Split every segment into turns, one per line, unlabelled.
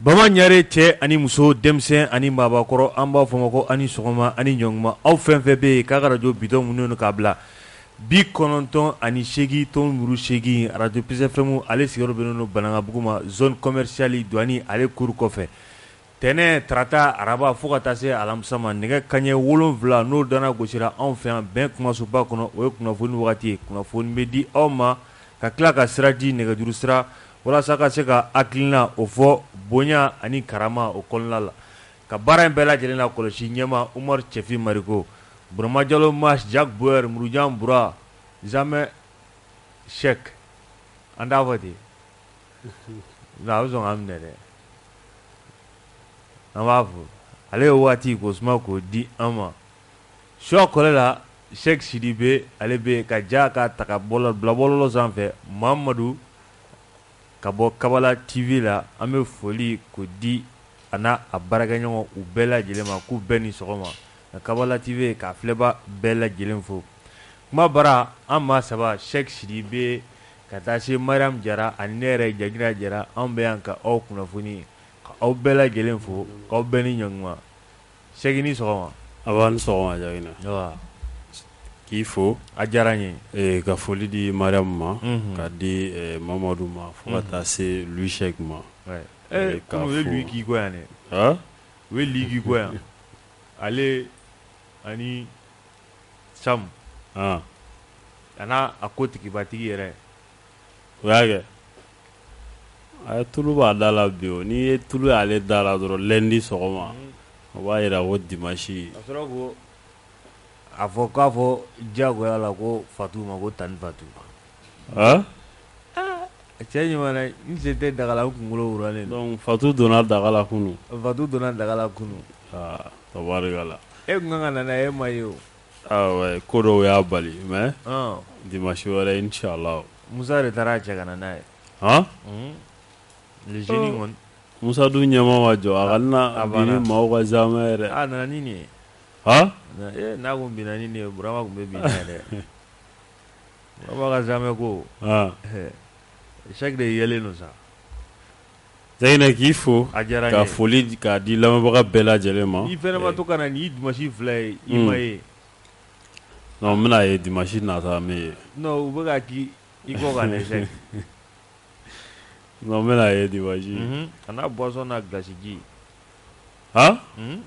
Bama Ɲare cɛ ani muso denmisɛn ani maabakɔrɔ an b'a fɔ ma ko ani sɔgɔma ani ɲɔgɔnkuma aw fɛn fɛn bɛ yen k'a ka arajo bitɔn munu k'a bila bi kɔnɔntɔn ani seegin tomi seegin arajo Peace FM ale sigiyɔrɔ bɛnnen don Banankabugu ma zone commerciale douane ale cour kɔfɛ Tɛnɛn tarata araba fo ka taa se alamisa ma nɛgɛ kanɲɛ wolonwula n'o dana gosira anw fɛ yan bɛn kumasoba kɔnɔ o ye kunnafoni wagati ye kunnafoni bɛ di aw ma ka tila ka sira di nɛgɛjuru sira walasa ka se ka hakilina o fɔ bonya ani karama o kɔnɔna la ka baara in bɛɛ lajɛlen lakɔlɔsi ɲɛma Umar Cɛfin Mariko Burama Jalo Mas Jack Bauer Murujan Bura Zamɛ Sɛki an t'a fɔ ten nka a bɛ sɔn k'an minɛ dɛ an b'a fɔ ale ye waati k'o suma k'o di an ma suwa kɔlɛ la Sɛki Sidibe ale bɛ ka ja ka ta k'a bila bɔlɔlɔ sanfɛ Mamadu ka bɔ Kabala TV la an bɛ foli k'o di a n'a a baarakɛɲɔgɔn u bɛɛ lajɛlen ma k'u bɛɛ ni sɔgɔma ka Kabala TV ka filɛbaa bɛɛ lajɛlen fo kuma bara an maa saba Sɛki Sidibe Ka taa se Mariam Jara ani ne yɛrɛ Jagina Jara anw bɛ yan ka aw kunnafoni ka aw bɛɛ lajɛlen fo k'aw bɛɛ ni ɲaguma Sɛki ni sɔgɔma nba i ni sɔgɔma
Jagina k'i fo a diyara n ye
ka foli di
Mariam ma ka di Mamadu ma fo ka taa se Louis Sɛki ma
u ye Louis k'i kɔ yan dɛ u ye Louis k'i kɔ yan ale ani Samu a n'a a ko tigibatigi yɛrɛ o y'a
kɛ a ye tulu b'a da la bi o n'i ye tulu y'ale da la dɔrɔn lɛndi sɔgɔma o b'a jira ko dimansi
a fɔ k'a fɔ diyagoya la ko Fatu ma ko tanti Fatu A cɛ ɲuman n sen tɛ daga la kunkololen don Fatu
donna daga la kunun Fatu donna daga
la kunun
tabarikala e tun ka
kan ka na e ma ye o ko
dɔw y'a bali mɛ dimansi wɛrɛ inchallah Musa de taara
a cɛ ka n'a ye hɔn Musa dun
ɲɛma ma jɔ a ka na bi ni maaw ka zamɛ yɛrɛ a nana ni
nin ye h n'a ko minɛn ni ye Bura tun bɛ bi dɛ Baba ka zamɛ ko Sɛki de yɛlɛlen don
sa Zayina k'i fo a diyara n ye ka foli
k'a di
lamɛnbaga bɛɛ lajɛlen ma i fana ma to ka na nin
dimansi fila ye i ma ye
n bɛna ye dimansi nata n bɛ ye u bɛ
di i ko
ka bɛna ye dimansi a n'a buwasɔn n'a
gilasiji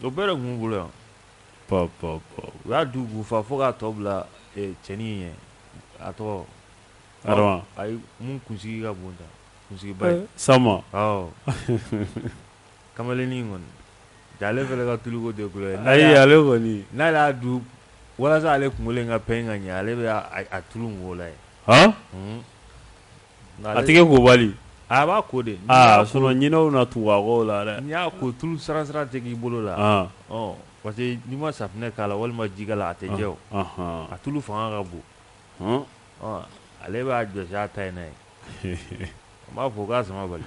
o bɛɛ tun bolo yan Pɔ pɔ pɔ u y'a du k'u fa fo k'a tɔ bila ee, cɛnin in ɲɛ, a tɔgɔ, Adama,
ayi min
kunsigi ka bon tan, kunsigiba in, Sama, awɔ, kamalennin in kɔni, jaa ale fana ka tuluko tɛ ko ye, ayi ale
kɔni, n'ale y'a
du walasa ale kunkolo in ka pɛɲɛ ka ɲɛ ale bɛ a tulu in k'o la yen, han, unhun.
A tɛgɛ ko bali a b'a ko
de sinon ɲinɛw
na tugu a kɔ la dɛ n'i y'a ko tulu sara sara
tɛ k'i bolo la parce que n'i ma safunɛ k'a la walima jikalan a tɛ jɛ o a tulu fanga ka bon ale b'a jɔsi a ta in na yen an b'a fɔ k'a sama bali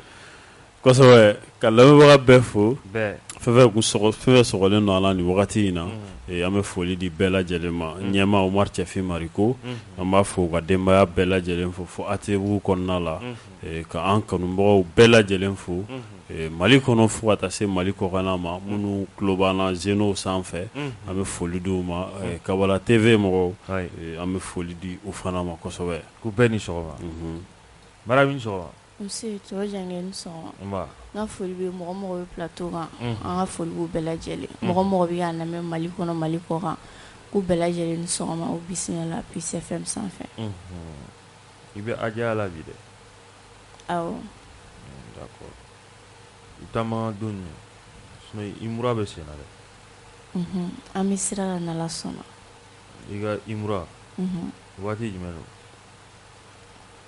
kosɛbɛ
ka lamɛnbaga bɛɛ fo bɛɛ fɛn fɛn kun
sɔgɔ
fɛn fɛn sɔgɔlen don a la nin wagati in na ee, an bɛ foli di bɛɛ lajɛlen ma ɲɛma Omar Cɛfin Mariko an b'a fo ka denbaya bɛɛ lajɛlen fo fo ATTBugu kɔnɔna la ee, ka an kanubagaw bɛɛ lajɛlen fo ee, Mali kɔnɔ fo ka taa se Mali kɔkanna ma minnu tulo b'an na zenow sanfɛ an bɛ foli di u ma ee, Kabala TV mɔgɔw ayi ee, an bɛ foli di u fana ma kosɛbɛ k'u bɛɛ ni sɔgɔma
Unhun, Marabi i ni sɔgɔma
Ka foli bɛ mɔgɔ mɔgɔ bɛ plateau kan an ka foli b'u bɛɛ lajɛlen mɔgɔ mɔgɔ bɛ k'an lamɛn mali kɔnɔ mali kɔkan k'u bɛɛ lajɛlen ni sɔgɔma u bisimila Peace FM sanfɛ
i bɛ Aja la bi dɛ taama don Umura bɛ sen na
dɛ an bɛ sira la n'Ala sɔnna i ka
Umura waati jumɛn don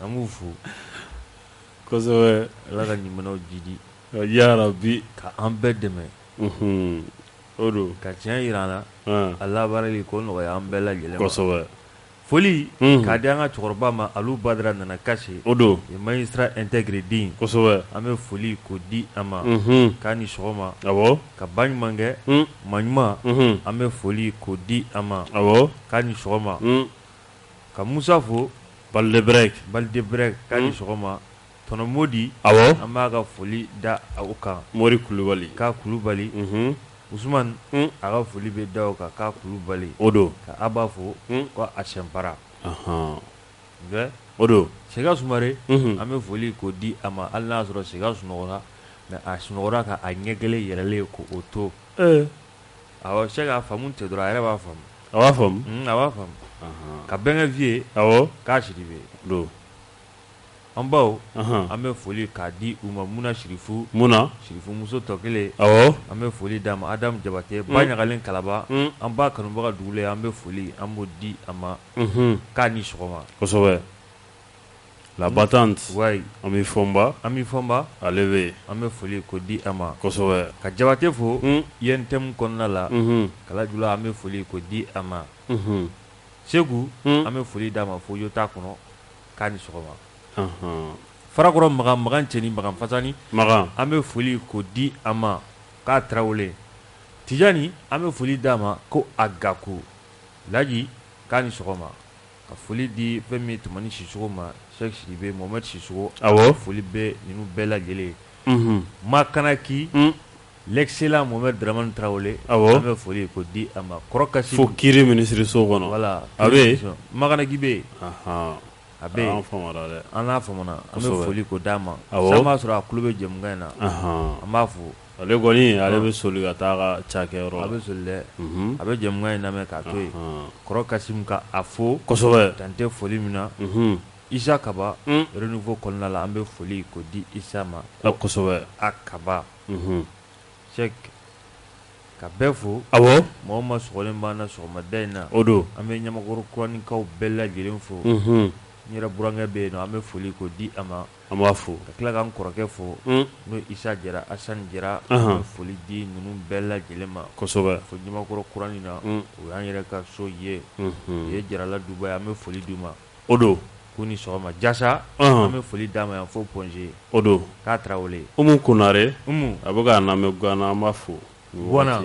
An b'u fo
kosɛbɛ ala ka ɲumanw
jidi ya rabi
ka an bɛɛ
dɛmɛ o
don ka tiɲɛ yira an na
a labaarali ko nɔgɔya an bɛɛ lajɛlen Foli k'a di an ka cɛkɔrɔba ma Alu Badara Nana Kase o don ee magistrat
intègre
den kosɛbɛ an bɛ foli
k'o
di a ma k'a ni sɔgɔma awɔ ka ba ɲumankɛ ma ɲuman an bɛ foli k'o di a ma awɔ k'a ni sɔgɔma ka musa fo
Baldebrek Baldebrek k'a
ni sɔgɔma tɔnɔmodi awɔ an b'a
ka
foli da o kan mori kulubali
k'a
kulubali Usman a ka foli bɛ da o kan k'a kulubali o don ka Aba
fo
ko a Sɛnpara
o don Sega
Sumare an bɛ foli k'o di a ma hali n'a sɔrɔ Sega sunɔgɔra mais a sunɔgɔra ka a ɲɛ kelen yɛlɛlen k'o to awɔ se k'a faamu n tɛ dɔrɔn a yɛrɛ b'a faamu a b'a
faamu a b'a faamu
ka Bɛnkɛ Vieux k'a Sidibe an baw an bɛ foli k'a di u ma muna sirifu muna sirifu muso tɔ kelen an bɛ
foli d'a ma
adamu jabate ba ɲagalen kalaba an ba kanubaga dugulen ye an bɛ foli an b'o di a ma k'a ni sɔgɔma
kosɛbɛ la battante an bɛ
fɔnba
an bɛ fɔnba ale bɛ an bɛ foli k'o
di a ma kosɛbɛ ka jabate
fo
INTM kɔnɔna la kalajula an bɛ foli k'o di a ma segu an bɛ foli d'a ma fo yota kɔnɔ k'a ni sɔgɔma farakɔrɔ makan makan cɛɲi makan fasani makan an bɛ foli k'o di a ma ka tarawele tijani an bɛ foli d'a ma ko a gaku laji k'a ni sɔgɔma ka foli di fɛn min tumani sisɔkɔ ma seki sidibe mohamɛdi sisɔkɔ awɔ foli bɛ ninnu bɛɛ lajɛlen ye makanaki L'excellent Mohamɛdi Daramani Tarawele, awɔ, an bɛ foli k'o di a ma kɔrɔ Kasimu, fo kiri
minisiriso kɔnɔ, voila, a bɛ yen, Makanaki bɛ
yen, anhan, a bɛ yen, an faamu na dɛ, an n'a faamu na, an bɛ foli k'o d'a ma, awɔ, sisan an b'a sɔrɔ a tulo bɛ jɛmukan in na, anhan, an b'a fo, ale kɔni ale bɛ soli ka taa a ka cakɛyɔrɔ la, a bɛ soli dɛ, unhun, a bɛ jɛmukan in lamɛn k'a to yen, anhan, kɔrɔ Kasimu ka a fo, kosɛbɛ, dan tɛ foli min na, unhun, Isa Kaba, un, renouveau kɔnɔna la, an bɛ foli k'o di Isa ma, kosɛbɛ, a Kaba Ka bɛɛ fo awɔ mɔgɔ ma sɔgɔlen b'an na sɔgɔmada in na o don an bɛ ɲamakɔrɔ kuraninkaw bɛɛ lajɛlen fo n yɛrɛ burankɛ bɛ yen nɔ an bɛ foli k'o di a ma an b'a fo ka tila ka n kɔrɔkɛ fo n'o isa jara asani jara an bɛ foli di ninnu bɛɛ lajɛlen ma kosɛbɛ fo ɲamakɔrɔ kuranin na o y'an yɛrɛ ka so ye o ye jarala duba ye an bɛ foli d'u ma o don k'u ni sɔgɔma jasa an bɛ foli d'a ma yan fo point G o don ka tarawele umu konare a bɛ k'a lamɛn guana an b'a fo guana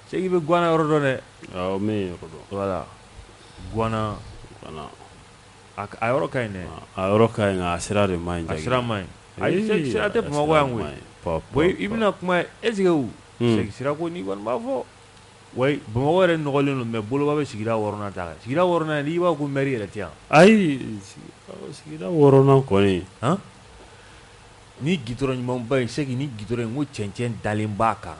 seki bɛ guana yɔrɔ dɔn dɛ n bɛ yen yɔrɔ dɔn voilà guana a a yɔrɔ ka ɲi a yɔrɔ ka ɲi a sira de man ɲi a sira man ɲi ayi sira tɛ bamakɔ yan koyi i bɛna kuma est-ce que seki sira ko n'i kɔni b'a fɔ Wa bamakɔ yɛrɛ nɔgɔlen don mais boloba bɛ sigida wɔɔrɔnan ta kan sigida wɔɔrɔnan n'i b'a ko mɛri yɛrɛ tɛ yan ayi sigida wɔɔrɔnan kɔni ni gitɔrɔn ɲumanba in seki ni gitɔrɔn in ko cɛncɛn dalen b'a kan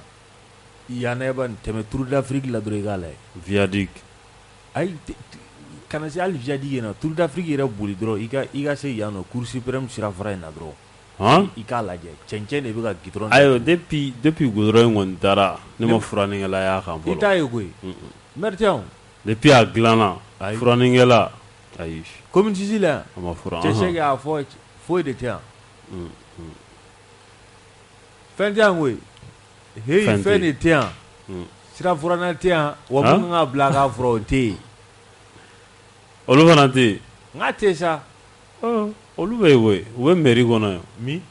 yan n'a ba tɛmɛ tour d'afrique la dɔrɔn i k'a lajɛ viaduc ayi kana se hali viaduc in na tour d'afrique yɛrɛ boli dɔrɔn i ka se yan nɔ cour suprême sirafara in na dɔrɔn i k'a lajɛ cɛncɛn de bɛ ka gitɔrɔn ayiwa depuis gitɔrɔn in kɔni taara ne ma furannikɛla y'a kan fɔlɔ i t'a ye koyi mɛri tɛ yan depuis a dilanna furannikɛla ayi commune six la a ma furan cɛ seki y'a fɔ foyi de tɛ yan fɛn tɛ yan koyi fɛn de tɛ yan sirafuranna tɛ yan wa ka bila k'a furan o tɛ yen olu fana tɛ yen n'a tɛ sa Olu bɛ yen koyi u bɛ mairie kɔnɔ yan min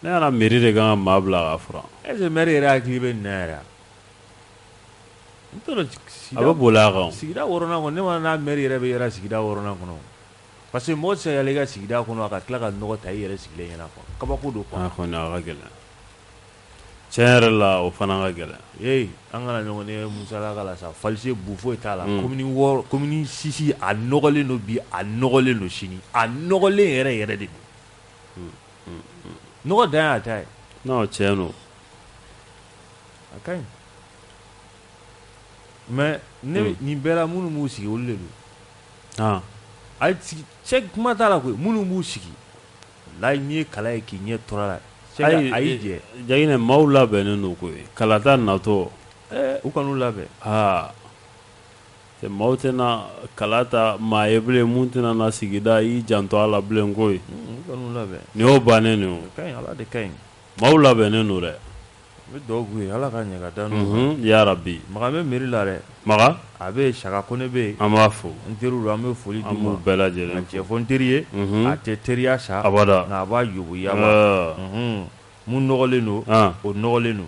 ne ɲɛna mairie de ka kan ka maa bila k'a furan est-ce que maire yɛrɛ hakili bɛ nin na yɛrɛ n t'a dɔn a bɛ boli a kan sigida wɔɔrɔnan kɔnɔ ne ma n'a maire yɛrɛ bɛ yɛrɛ sigida wɔɔrɔnan kɔnɔ parce que mɔgɔ tɛ se ka yɛlɛ i ka sigida kɔnɔ a ka tila ka nɔgɔ ta i yɛrɛ sigilen ɲɛna kabako don a ka gɛlɛn tiɲɛ yɛrɛ la o fana ka gɛlɛn ee an kana ɲɔgɔn ye musalaka la sa falisi bu foyi t'a la commune six a nɔgɔlen don bi a nɔgɔlen don sini a nɔgɔlen yɛrɛ yɛrɛ de don nɔgɔ dan y'a ta ye non tiɲɛ don a ka ɲi mais nin bɛɛ la minnu b'u sigi olu de don a kuma t'a la koyi minnu b'u sigi Layi n'i ye kala ye k'i ɲɛ tɔrɔ la a y'i jija k'i ɲɛ maaw labɛnnen don koyi kalata natɔ u kan'u labɛn aa
maaw tɛna kala ta maa ye bilen mun tɛna na sigida i janto a la bilen koyi nin y'o bannen de ye maaw labɛnnen don dɛ Bɛ
dugawu k'u ye ala ka ɲɛ ka da n'u yarabi makan bɛ
mairie la
dɛ makan a bɛ
Saka
Kone bɛ yen an b'a fo n
teriw don an bɛ foli
d'u an b'u bɛɛ lajɛlen
tiɲɛ
fɔ
n teri
ye a tɛ teriya sa abada nka a b'a
yoboyaba
mun nɔgɔlen don o nɔgɔlen don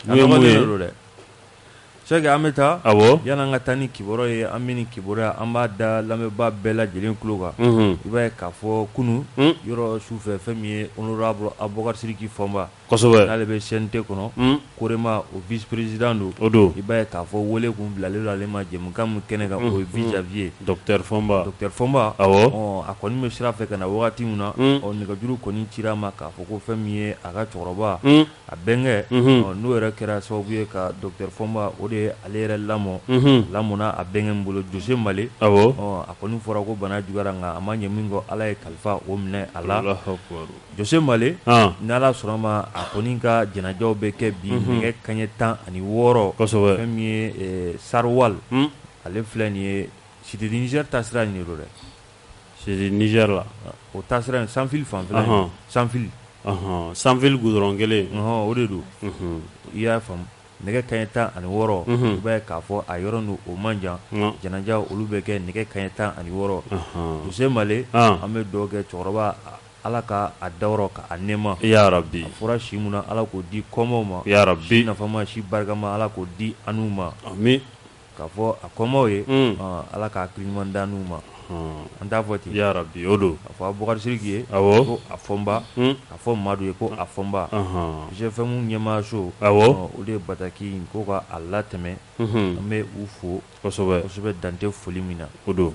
a nɔgɔlen don dɛ Sɛki an bɛ taa yanni an ka taa ni kibaruya ye an bɛ nin kibaruya an b'a da lamɛnbaa bɛɛ lajɛlen tulo kan i b'a ye k'a fɔ kunun yɔrɔ su fɛ fɛn min ye honorable Abubakar Sidiki Fɔnba n'ale bɛ
CNT kɔnɔ
Korema o vice-président don o don i b'a ye k'a
fɔ
wele kun bilalen don ale ma jɛmukan min kɛnɛ kan o ye huit janvier docteur
Fɔnba docteur
Fɔnba a kɔni bɛ sira fɛ ka na wagati min na ɔ nɛgɛjuru kɔni cira a ma k'a fɔ ko fɛn min ye a ka cɛkɔrɔba a bɛnkɛ n'o yɛrɛ kɛra sababu ye ka docteur Fɔnba o de ye ale yɛrɛ lamɔ a lamɔna a bɛnkɛ nin bolo Jose Male a kɔni fɔra ko bana juguyara a kan a ma ɲɛ min kɔ ala ye kalifa o minɛ a la Jose Male ni ala sɔnna ma a kɔni ka janajaw bɛ kɛ bi nɛgɛ kaɲɛ tan ani wɔɔrɔ fɛn min ye Sarwal ale filɛ nin ye Cité du Niger taasira nin don dɛ
la o taasira
Sanfil fanfɛla
Sanfil Sanfil goudron kelen o de don
i y'a faamu nɛgɛ kaɲɛ tan ani wɔɔrɔ i b'a ye k'a fɔ a yɔrɔ n'o man jan janaja olu bɛ kɛ nɛgɛ kaɲɛ tan ani wɔɔrɔ Jose Male an bɛ dugawu kɛ cɛkɔrɔba ala ka a dayɔrɔ ka a nɛɛma yarabi a fɔra
si mun ala
k'o di kɔmaw ma yarabi si nafama
si
barikama ala k'o di anw ma
K'a fɔ
a kɔmaw ye ala k'a hakili ɲuman da n'u ma an t'a fɔ ten yarabi o don a
fɔ abubakari sidiki
ye ko a fɔnba a fɔ madu ye ko a fɔnba GFM ɲɛmaaso o de ye bataki ko k'a latɛmɛ an bɛ u fo kosɛbɛ dan tɛ foli min na o don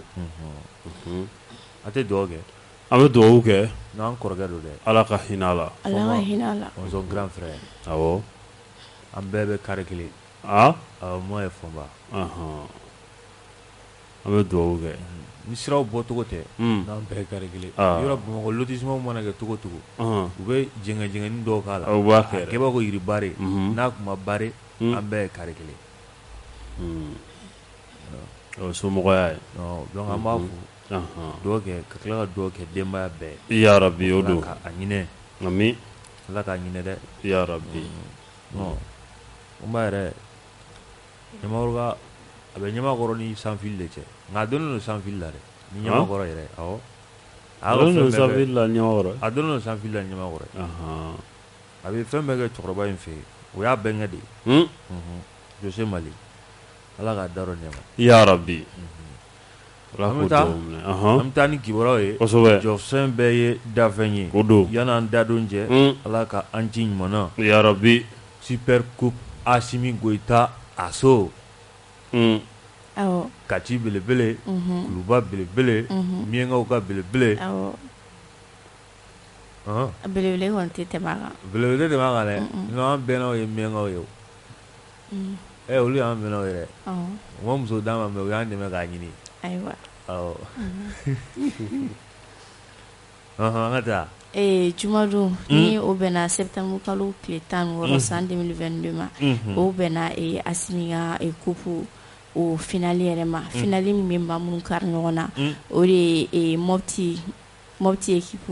a tɛ dugawu kɛ an bɛ dugawu kɛ
n'an kɔrɔkɛ don dɛ
ala ka hinɛ a la grand frère an bɛɛ bɛ kari kelen Aa ɔ mɔgɔ ye
fɔnba an bɛ dugawu kɛ ni siraw
bɔcogo tɛ n'an bɛɛ kari kelen yɔrɔ bamakɔ lotissement mana kɛ cogo cogo u bɛ jɛngɛni dɔw k'a la a kɛbaa ko yiribari n'a tun ma bare an bɛɛ ye kari
kelen o somɔgɔya ye donc an b'a
fo dugawu kɛ ka tila ka dugawu kɛ denbaya bɛɛ ye yarabi o don
a
ɲinin
amin ala k'a ɲinin
dɛ yarabi yɛrɛ ɲamakɔrɔ a bɛ ɲamakɔrɔ ni sanfili de cɛ nka a donnen don sanfili la dɛ ni ɲamakɔrɔ yɛrɛ a donnen don sanfili la ni ɲamakɔrɔ a bɛ fɛn bɛɛ kɛ cɛkɔrɔba in fɛ yen o y'a bɛnkɛ de ye jose male ala k'a dayɔrɔ nɛɛma yarabi An bɛ taa ni kibaruyaw ye jɔfɛn bɛɛ ye dafɛn ye o don yanni an
dadon
cɛ ala ka an ci ɲuman na yarabi
super
coupe asimi goyita a so kati belebele kuluba belebele miyankaw ka belebele
belebele tɛ tɛmɛ a kan
dɛ an bɛnnaw ye miyankaw ye ɛ olu y'an bɛnnaw ye dɛ, awɔ, u ma muso d'an ma mais u y'an dɛmɛ k'a ɲini, ayiwa, awɔ, ɔnhɔn, an ka taa, ee jumadon
ni o bɛnna septembre kalo tile 16 san 2022 ma, unhun, o bɛnna ee Asimi ka coupe o finale yɛrɛ ma, finale min bɛ maa minnu kari ɲɔgɔn na, o de ye mopti moti ye kip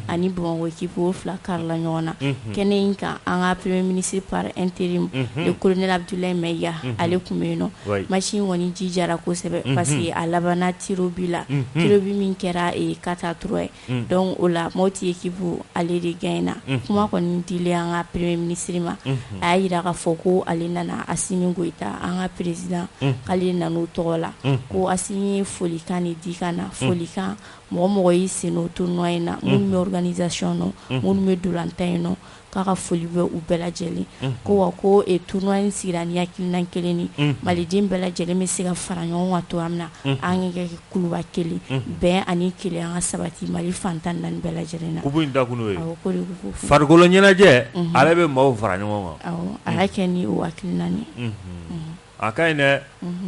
ani bamakɔ kip fila karila ɲɔgɔn na kɛnɛ in kan an ka pere minisi pa an teri ye ko nelabula in mɛ ya ale tun bɛ yen nɔ masi kɔni ji jarayara kosɛbɛ parce que a laban ti bi la tile bɛ min kɛra ka taa t ye dɔn o la maaw tɛ ye kip ale de gɛn in na kuma kɔni di an ka pere minisiriri ma a y'a jira ka fɔ ko ale nana a si min koyita an ka peresiale nan tɔgɔ la ko a ye folikan ni di kan na folikan mɔgɔ o mɔgɔ y'i sen don tournoi in na minnu bɛ organisation nɔ minnu bɛ ntolatan in nɔ k'a ka foli bɛ u bɛɛ lajɛlen ko wa ko tournoi in sigira ni hakilina kelen ni maliden bɛɛ lajɛlen bɛ se ka fara ɲɔgɔn kan cogo min na an ka kɛ kuluba kelen bɛn ani kelen an ka sabati mali fan tan ni naani bɛɛ lajɛlen na
da farikolo ɲɛnajɛ ale bɛ maaw fara ɲɔgɔn kan a y'a kɛ ni o
hakilina ni
a ka ɲi dɛ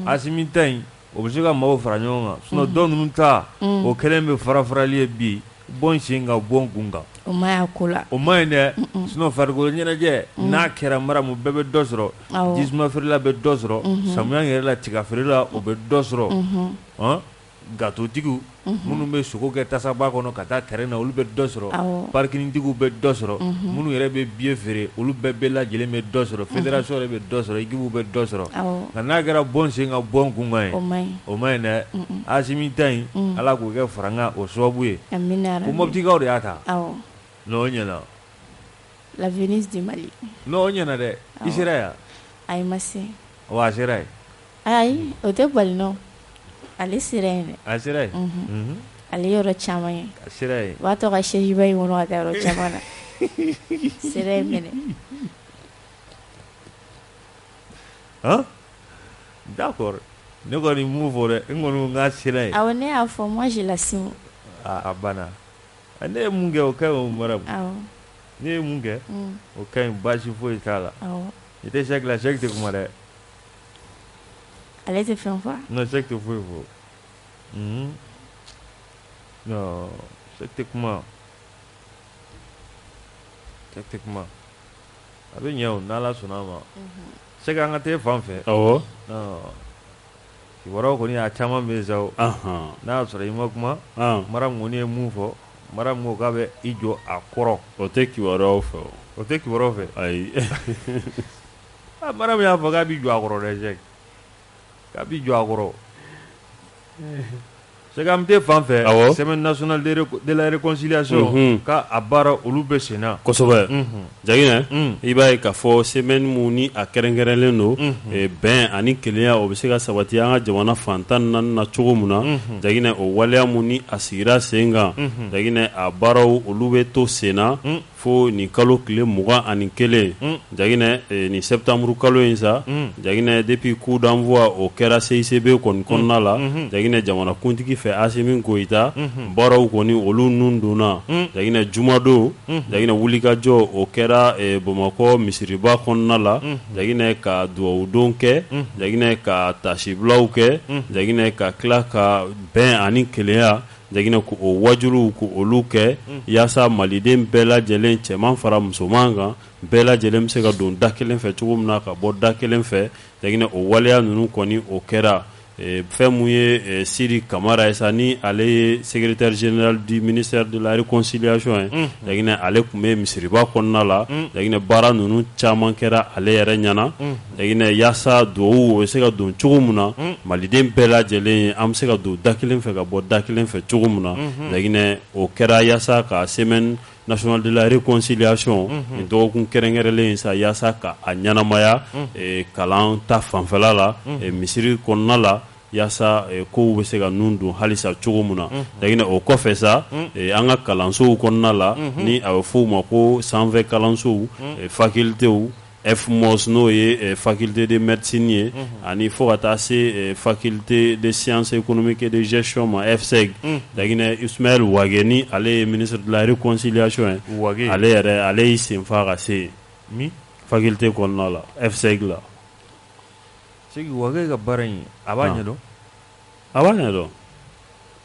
Asimi ta in o bɛ se ka maaw fara ɲɔgɔn kan sinon dɔw ninnu ta o kɛlen bɛ farafarali ye bi bɔn sen ka bɔn kun kan o ma ko la
o man ɲi
dɛ sinon farikolo ɲɛnajɛ n'a kɛra Maramu bɛɛ bɛ dɔ sɔrɔ jisuma feerela bɛ dɔ sɔrɔ samiya yɛrɛ la tiga feerela o bɛ dɔ sɔrɔ gatotigiw minnu bɛ sogo kɛ tasaba kɔnɔ ka taa terrain na olu bɛ dɔ sɔrɔ parikintigiw bɛ dɔ sɔrɔ minnu yɛrɛ bɛ billet feere olu bɛɛ bɛɛ lajɛlen bɛ dɔ sɔrɔ fédération yɛrɛ bɛ dɔ sɔrɔ équipe bɛ dɔ sɔrɔ nka n'a kɛra bɔn sen ka bɔn kunkan ye o man ɲi dɛ Asimi ta in ala k'o kɛ farankan o sababu ye ko Mɔptikaw de y'a ta n'o ɲɛna
la Venise du Mali n'o ɲɛna dɛ
i sera yan
a sera
Ayi o
tɛ bali non ale sera yen a sera
yen ale
yɔrɔ caman ye sera yen o'
tɔgɔ ka
sejiba in kɔnɔ a yɔrɔ caman na sera yen minɛ
d'accord ne kɔni mun fɔ dɛ n kɔni k'a sera yen a ne y'a
fɔ moi je l'assume a
banna ne ye mun kɛ o ka ɲi o Maramu ne ye mun kɛ o ka ɲi baasi foyi t'a la i tɛ Sɛki Sɛki tɛ kuma dɛ
Ale tɛ fɛn fɔ non Sɛki tɛ foyi
fɔ Sɛki tɛ kuma Sɛki tɛ kuma a bɛ ɲɛ n' ala sɔnna a ma Sɛki an ka taa fan fɛ
ɔ
kibaruyaw kɔni a caman bɛ sa n'a y'a sɔrɔ i ma kuma Maramu kɔni ye mun fɔ Maramu ko k'a bɛ i jɔ a kɔrɔ
o tɛ kibaruyaw fɛ o tɛ kibaruyaw fɛ
ayi Maramu y'a fɔ k'a b'i jɔ a kɔrɔ dɛ k'a b'i jɔ a kɔrɔ Sɛki an tɛ fan fɛ semaine nationale de la réconciliation k'a baara olu bɛ senna kosɛbɛ
Jaginɛ i b'a ye k'a fɔ semaine min ni a kɛrɛnkɛrɛnnen don bɛn ani kelenya o bɛ se ka sabati an ka jamana fan tan ni naani na cogo min na Jaginɛ o waleya min ni a sigira sen kan Jaginɛ a baaraw olu bɛ to senna Fo nin kalo tile mugan ani kelen Jaginɛ nin sɛtanburu kalo in sa Jaginɛ depuis coup d'envoi o kɛra CICB kɔni kɔnɔna la Jaginɛ jamanakuntigi fɛ Asimi Goyita baaraw kɔni olu ninnu donna Jaginɛ jumadon Jaginɛ wulikajɔ o kɛra Bamakɔ misiriba kɔnɔna la Jaginɛ ka dugawudon kɛ Jaginɛ ka taasibilaw kɛ Jaginɛ ka tila ka bɛn ani kelenya Jaginɛ ko o waajuliw ko olu kɛ unhun yaasa Maliden bɛɛ lajɛlen cɛman fara musoman kan bɛɛ lajɛlen bɛ se ka don da kelen fɛ cogo min na ka bɔ da kelen fɛ Jaginɛ o waleya ninnu kɔni o kɛra e fɛn mun ye e Sidi Kamara ye sa ni ale ye Secretaire General du Ministère de la Reconciliation ye unhun Jaginɛ ale tun bɛ misiriba kɔnɔna la un Jaginɛ baara ninnu caman kɛra ale yɛrɛ ɲɛna unhun Jaginɛ yasa duwawu o bɛ se ka don cogo min na maliden bɛɛ lajɛlen an bɛ se ka don da kelen fɛ ka bɔ da kelen fɛ cogo min na Jaginɛ o kɛra yasa ka semaine nationale de la réconciliation nin dɔgɔkun kɛrɛnkɛrɛnlen in sa yasa ka a ɲɛnamaya kalan ta fanfɛla la misiri kɔnɔna la yasa kow bɛ se ka nun don halisa cogo min na Jaginɛ o kɔfɛ sa an ka kalansow kɔnɔna la ni a bɛ f'o ma ko sanfɛ kalansow facultés F mɔs n'o ye fakite de mretiini ye ani fɔ ka taa se fakite de sise kɔnɔmi kɛ deɛn ma fɛ laginɛ is wa ni ale ye minisiririlare cosiyasiɔn ye ale yɛrɛ ale y'i senfa ka se yen fakite kɔnɔna la fɛ la
ka baara in a b'a ɲɛ a b'a
ɲɛ dɔn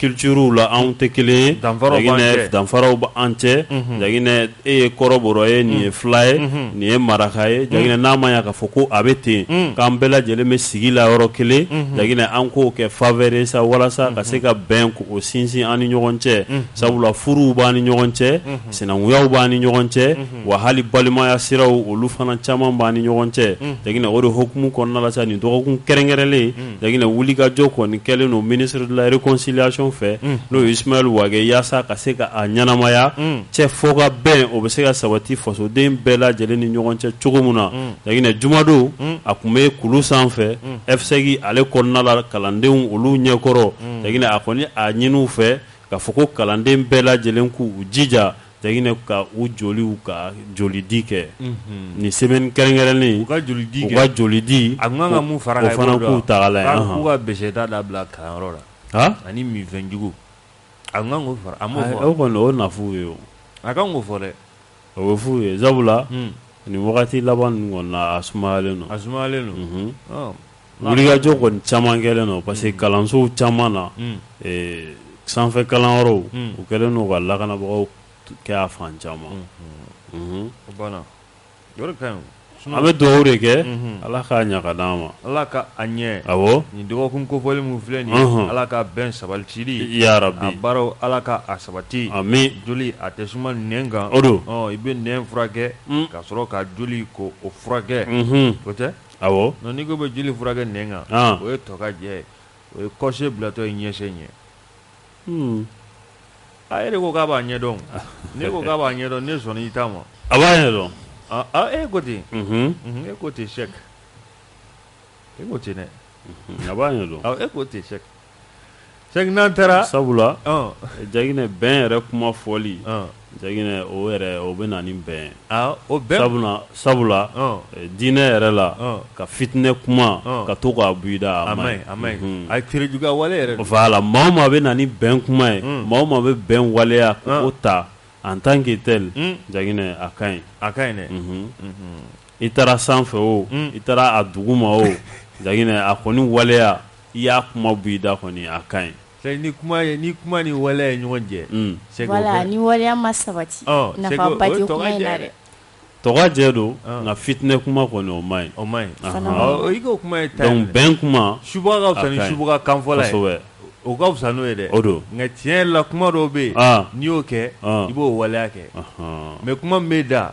culturew la anw tɛ kelen ye danfaraw bɛ an cɛ Jaginɛ e ye kɔrɔbɔrɔ ye nin ye fila ye nin ye maraka ye Jaginɛ n'a ma ya k'a fɔ ko a bɛ ten k'an bɛɛ lajɛlen bɛ sigi la yɔrɔ kelen Jaginɛ an k'o kɛ faveur ye sa walasa ka se ka bɛnko sinsin an ni ɲɔgɔn cɛ sabula furuw b'an ni ɲɔgɔn cɛ sinankuyaw b'an ni ɲɔgɔn cɛ wa hali balimaya siraw olu fana caman b'an ni ɲɔgɔn cɛ Jaginɛ o de hukumu kɔnɔna la sa nin dɔgɔkun kɛrɛnkɛrɛnlen Jaginɛ wulikajɔ kɔni kɛlen don ministre de la réconciliation fɛ n'o ye Ismaël Wage yasa ka se ka a ɲɛnamaya cɛ fɔ ka bɛn o bɛ se ka sabati fasoden bɛɛ lajɛlen ni ɲɔgɔn cɛ cogo min na Jaginɛ jumadon a tun bɛ kulu sanfɛ FSEG ale kɔnɔna la kalandenw olu ɲɛkɔrɔ Jaginɛ a kɔni a ɲini u fɛ k'a fɔ ko kalanden bɛɛ lajɛlen k'u jija Jaginɛ ka u joliw ka jolidi kɛ unhun nin semaine kɛrɛnkɛrɛnnen u ka
jolidi
kɛ u
ka jolidi
a tun ka kan ka mun far'a kan o
fana k'u ta lajɛ
anhan k'a k'u ka beseta dabila
kalanyɔrɔ la haa ani minfɛn jugu a tun ka kan k'o fara a m'o fɔ wa ayi o kɔni o na f'u
ye o a ka kan k'o fɔ
dɛ o bɛ f'u ye
sabula un nin wagati laban ninnu kɔni na a sumayalen don a sumayalen don unhun ɔɔn wulikajɔ kɔni caman kɛlen don parce que kalansow caman na sanfɛ kalanyɔrɔw u kɛlen don ka lakanabagaw kɛ a fan caman
an bɛ dugawu de
kɛ ala k'a ɲa ka d'an ma ala k'a
ɲɛ awɔ nin
dɔgɔkun
kofɔli min filɛ nin ala ka bɛn sabati yarabi a
baara ala
ka a sabati amin joli a
tɛ suma
nɛn kan o don i bɛ
nɛn furakɛ
ka sɔrɔ ka joli ko o furakɛ o tɛ n'i ko
bɛ joli
furakɛ nɛn kan o ye tɔkajɛ o ye kɔsen bilatɔ ye ɲɛsen ɲɛ a yɛrɛ ko k'a b'a ɲɛdɔn ne ko k'a b'a ɲɛdɔn ne sɔnna i ta ma a b'a ɲɛdɔn
e ko ten e
ko ten Sɛk e ko ten dɛ a b'a
ɲɛdɔn e ko ten Sɛk
Sɛki n'an taara
sabula Jaginɛ bɛn yɛrɛ kuma fɔli Jaginɛ o yɛrɛ o bɛ na ni bɛn o
bɛn sabula
diinɛ yɛrɛ la ka fitinɛ kuma ka to k'a buyida a man ɲi a ye
tere juguya wale yɛrɛ voilà maa o maa
bɛ na ni bɛn kuma ye maa o maa bɛ bɛn waleya k'o ta en tant que tel Jaginɛ a ka ɲi a ka ɲi dɛ i taara sanfɛ o i taara a duguma o Jaginɛ a kɔni waleya i y'a kuma buyida kɔni a ka ɲi ni kuma ni
kuma ni waleya ye ɲɔgɔn jɛ sɛ ni waleya
ma sabati tɔgɔjɛ
don nka fitinɛ kuma kɔni o man
ɲi o man ɲi bɛn
kuma subaga ka fisa ni
subaga kanfɔla ye o ka fisa
n'o
ye dɛ o don nka tiɲɛ la
kuma
dɔw bɛ yen n'i y'o kɛ i b'o waleya kɛ mais kuma bɛ da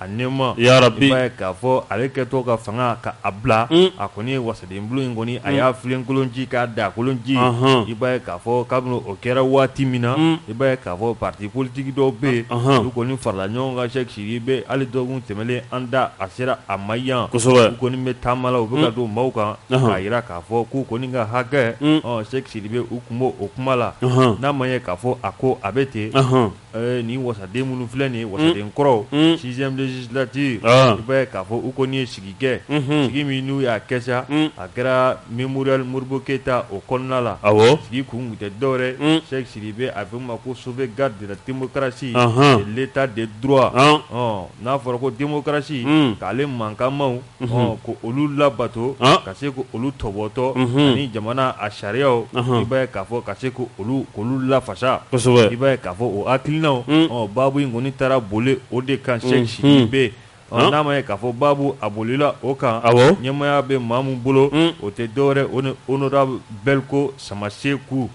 A nɛɛma i b'a ye
k'a
fɔ ale kɛtɔ ka fanga ka a bila a kɔni ye wasaden bulon in kɔni a y'a filenkolon ci k'a daakolon ci i b'a ye k'a fɔ kabini o kɛra waati min na i b'a ye k'a fɔ parti politique dɔw bɛ yen olu kɔni farala ɲɔgɔn kan Sɛki Sidibe hali dɔgɔkun tɛmɛnen an da a sera a ma yan kosɛbɛ u kɔni bɛ taama
la u
bɛ ka don maaw kan k'a jira k'a fɔ k'u kɔni ka hakɛ Sɛki Sidibe u kun b'o kuma la n'a ma ye k'a fɔ a ko a bɛ ten Ni waden minnu filɛ nin waden kɔrɔ sizditi bɛ k'a fɔ u ko n ye sigi kɛ sigi min n'u y'a kɛ a kɛra min muruyali moribu keyita o kɔnɔna la a sigi kun tɛ dɔwɛrɛ sɛ siri bɛ a bɛ ma ko so bɛ garidirabosi leta de du n'a fɔra ko denbosi k'ale mankanma ko olu labato ka se ko olu tɔbɔtɔ ani jamana a sariyaw i b'a ye k'a fɔ ka se ko olu k'olu lafasa i b'a ye k'a fɔ o hakilinaw baabu in kɔni taara boli o de kan Sɛki Sidibe n'a ma ye k'a fɔ baabu a bolila o kan ɲɛmaaya bɛ maa min bolo o tɛ dɔwɛrɛ o ni honorable Belko Samaseku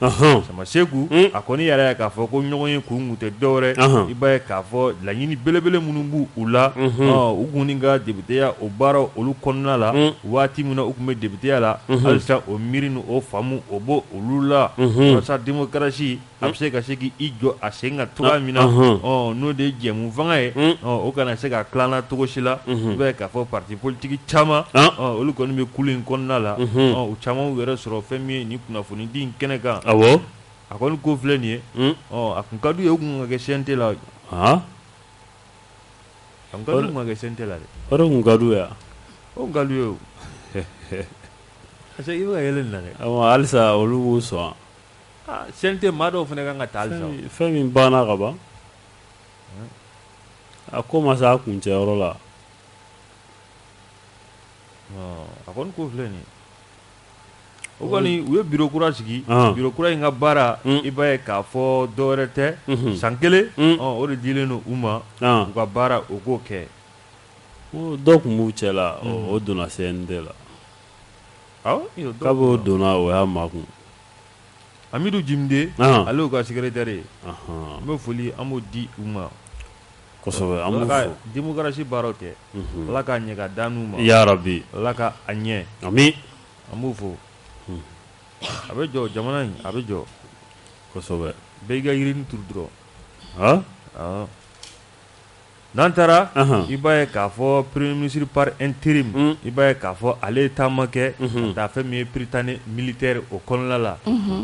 Samaseku a kɔni y'a yira k'a fɔ ko ɲɔgɔn ye kun kun tɛ dɔwɛrɛ i b'a ye k'a fɔ laɲini belebele minnu b' u la u kɔni ka depiteya o baara olu kɔnɔna la waati min na u tun bɛ depiteya la halisa o miiri ni o faamu o b'olu la walasa démocratie a bɛ se ka se k' i jɔ a sen kan cogoya min na n'o de ye jɛmufanga ye o kana se ka kaana cogo si la i b'a ye k'a fɔ parti politique caman olu kɔni bɛ kulu in kɔnɔna la u caman y'u yɛrɛ sɔrɔ fɛn min ye nin kunnafoni di kɛnɛ kan a kɔni ko filɛ nin ye a tun ka d'u ye u kun ka kɛ CNT la kɛ CNT la dɛ ka
d'u ye o ka d'u ye
parce que i bɛ yɛlɛ na halisa olu
sɔn CNT
maa dɔw fana kan ka taa halisa fɛn min banna
ka ban a ko ma se a kuncɛyɔrɔ la
a kɔni ko filɛ nin ye o kɔni u ye biro kura sigi biro kura in ka baara i b'a ye k'a fɔ dɔwɛrɛ tɛ san kelen o de dilen don u ma u ka baara u k'o kɛ
dɔw tun b'u cɛ la o donna CNT la dɔw donna o y'a ma
kun Amidu Jimde ale y'u ka secrétaire ye an bɛ foli an b'o di u ma kosɛbɛ démocratie baara kɛ ala k'a ɲɛ ka da n'u ma ya rabi ala
ka a
ɲɛ
ami an b'o
fɔ a bɛ jɔ jamana in a bɛ jɔ
kosɛbɛ bɛɛ ka
yiri turu dɔrɔn N'an taara i b'a ye k'a fɔ premier ministre par intérim i b'a ye k'a fɔ ale taama kɛ ka taa fɛn min ye Prytanée militaire o kɔnɔna la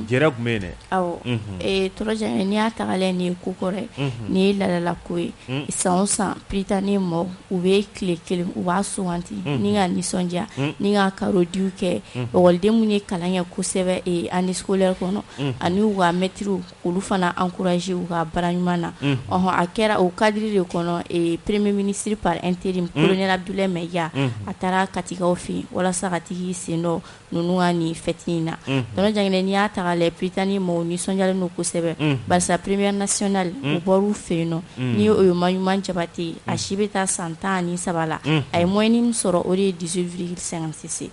jɛrɛ tun bɛ yen
dɛ ɔ tɔrɔjan n'i y'a ta k'a lajɛ nin ye ko kɔrɔ ye nin ye laadala ko ye san o san Prytanée mɔgɔw u bɛ tile kelen u b'a sugandi ni ka nisɔndiya ni ka kado di kɛ ekɔliden minnu ye kalan kɛ kosɛbɛ année scolaire kɔnɔ ani u ka mɛtiriw olu fana ankuraze u ka baara ɲuman na ɔɔn a kɛra o kadiri de kɔnɔ premier ministre par intérim kolonɛli Abudulayi Mayiga a taara Katikaw fɛ yen walasa ka tag'i sen don ninnu ka nin fɛti in na tɔnɔjan n'i y'a ta k'a lajɛ Prytanée maaw nisɔndiyalen don kosɛbɛ barisa première nationale o bɔr'u fɛ yen nɔ n'o ye Maɲuma Jabate a si bɛ taa san tan ni saba la a ye moyenne min sɔrɔ o de ye dix-huit virgule cinquante-six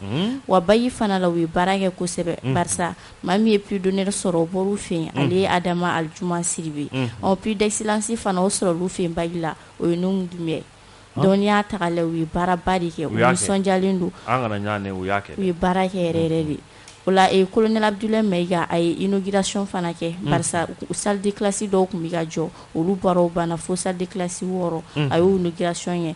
wa bac fana la u ye baara kɛ kosɛbɛ barisa Maa min ye prix d'honneur sɔrɔ o bɔr'u fɛ yen, ale ye Adama Alijuma Sidibe, unhun, ɔ prix d'excellence fana o sɔrɔla u fɛ yen bac la o ye Nuhum Dunbiya ye, donc n'i y'a ta k'a lajɛ u ye baaraba de kɛ, u nisɔndiyalen don, an kana ɲagami an tɛgɛ, u
y'a kɛ, u ye baara kɛ yɛrɛ
yɛrɛ de, o la ee colonel Abudulayi Mayiga a ye inauguration fana kɛ, barisa salle de classe dɔw tun bɛ ka jɔ olu baaraw banna fo salle de classe wɔɔrɔ a y'o inauguration kɛ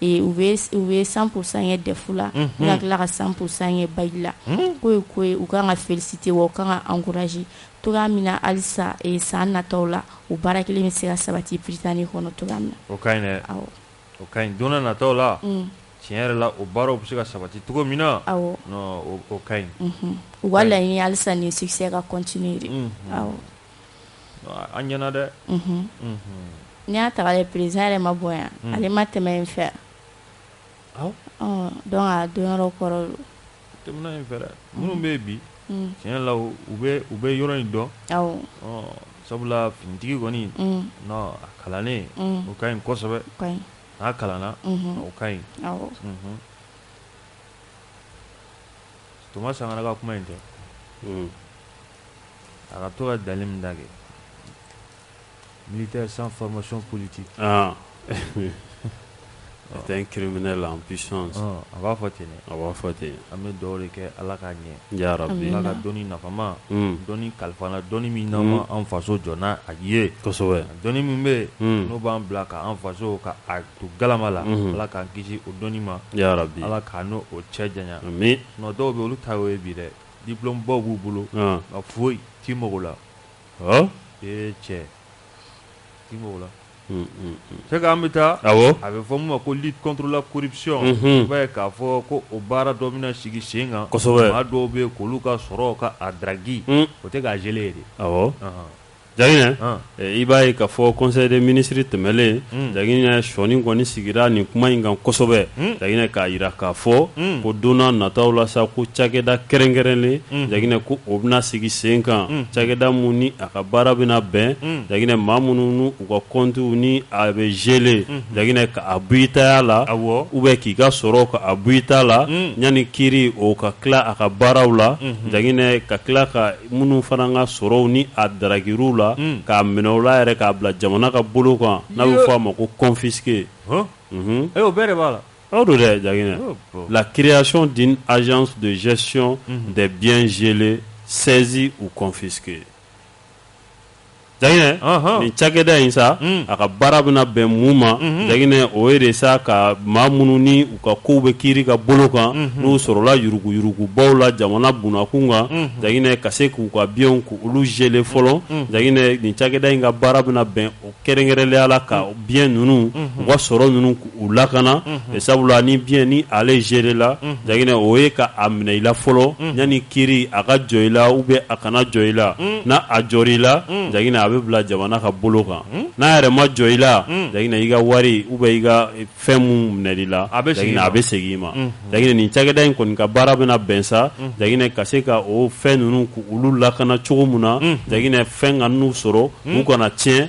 u bɛ san san ye dɛ la n tila ka san san ye ba la ko ye ko u ka kan ka fisi tɛ u ka kan ankurasi to min na alisa san natɔ la u baara kelen bɛ se ka sabati pta ni kɔnɔ to min na
donna natɔ la tiɲɛ yɛrɛ la o baaraw bɛ se ka sabati cogo min na ka ɲi u wala
alisa ni sikisɛ ka cotigi
an ɲɛna
dɛ n'i y'a ta k'a lajɛ président yɛrɛ ma bɔ yan ale ma tɛmɛ yen fɛ donc a dɔnyɔrɔ kɔrɔ yen fɛ
minnu bɛ yen bi tiɲɛ la u u bɛ yɔrɔ in dɔn sabula finitigi kɔni a kalannen o ka ɲi kosɛbɛ n'a kalanna o ka ɲi Toma Sankara ka kuma in tɛ A ka to ka dali min da kɛ militaire sans formation politique
c'est un criminel en puissance a b'a fɔ ten
a b'a fɔ ten an bɛ
dugawu de kɛ
ala k'a ɲɛ ala ka
dɔnni
nafama dɔnni kalifa an na dɔnni min n'an ma an faso jɔ n'a ye dɔnni
min
bɛ yen n'o b'an bila k'an faso k'a to galama la ala k'an kisi o dɔnni ma ala
k'an n'o cɛ
janya dɔw bɛ
olu ta
ye bi dɛ Diplômebaw b'u bolo nka foyi t'i mago la ee cɛ t'i mago la c'est k'an bɛ taa a bɛ fɔ min ma ko lutte contre la corruption i b'a ye k'a fɔ ko o baara dɔ bɛna sigi sen kan maa dɔw bɛ yen
k'olu ka
sɔrɔ ka a daraki o tɛ k'a geler ye de
Jaginɛ i b'a ye k'a fɔ conseil des ministres tɛmɛlen Jaginɛ sɔni kɔni sigira nin kuma in kan kosɛbɛ Jaginɛ k'a jira k'a fɔ ko don nataw la sa ko cakɛda kɛrɛnkɛrɛnlen Jaginɛ ko o bɛna sigi sen kan cakɛda min ni a ka baara bɛna bɛn Jaginɛ maa minnu n'u ka kɔntiw ni a bɛ geler Jaginɛ k'a bɔ i taya la ou bien k'i ka sɔrɔ k'a bɔ i ta la yanni kiiri o ka tila a ka baaraw la Jaginɛ ka tila ka Minnu fana ka sɔrɔw ni a darakir'u la k'a minɛ u la yɛrɛ k'a bila jamana ka bolo kan n'a bɛ fɔ a ma ko
confisqué o bɛɛ de b'a la aw don dɛ
Jaginɛ la création d'une agence de gestion des biens gelés saisis ou confisqués Jaginɛ nin cakɛda in sa a ka baara bɛna bɛn mun ma Jaginɛ o ye de sa ka maa minnu ni u ka kow bɛ kiiri ka bolo kan n'u sɔrɔlala yuruguyurugubaw la jamana bunakun kan Jaginɛ ka se k'u ka biens k'olu geler fɔlɔ Jaginɛ nin cakɛda in ka baara bɛna bɛn o kɛrɛnkɛrɛnlenya la ka biens ninnu u ka sɔrɔ ninnu k'u lakana sabula ni bien ni ale geler la Jaginɛ o ye k'a minɛ i la fɔlɔ yanni kiiri a ka jɔ i la ou bien a kana jɔ i la n'a jɔr'i la Jaginɛ a bɛ bila jamana ka bolo kan n'a yɛrɛ ma jɔ i la Jaginɛ i ka wari ou bien i ka fɛn min minɛn'i la Jaginɛ a bɛ segin i ma Jaginɛ nin cakɛda in kɔni ka baara bɛna bɛn sa Jaginɛ ka se ka o fɛn ninnu k'olu lakana cogo min na Jaginɛ fɛn kan'u sɔrɔ u kana tiɲɛ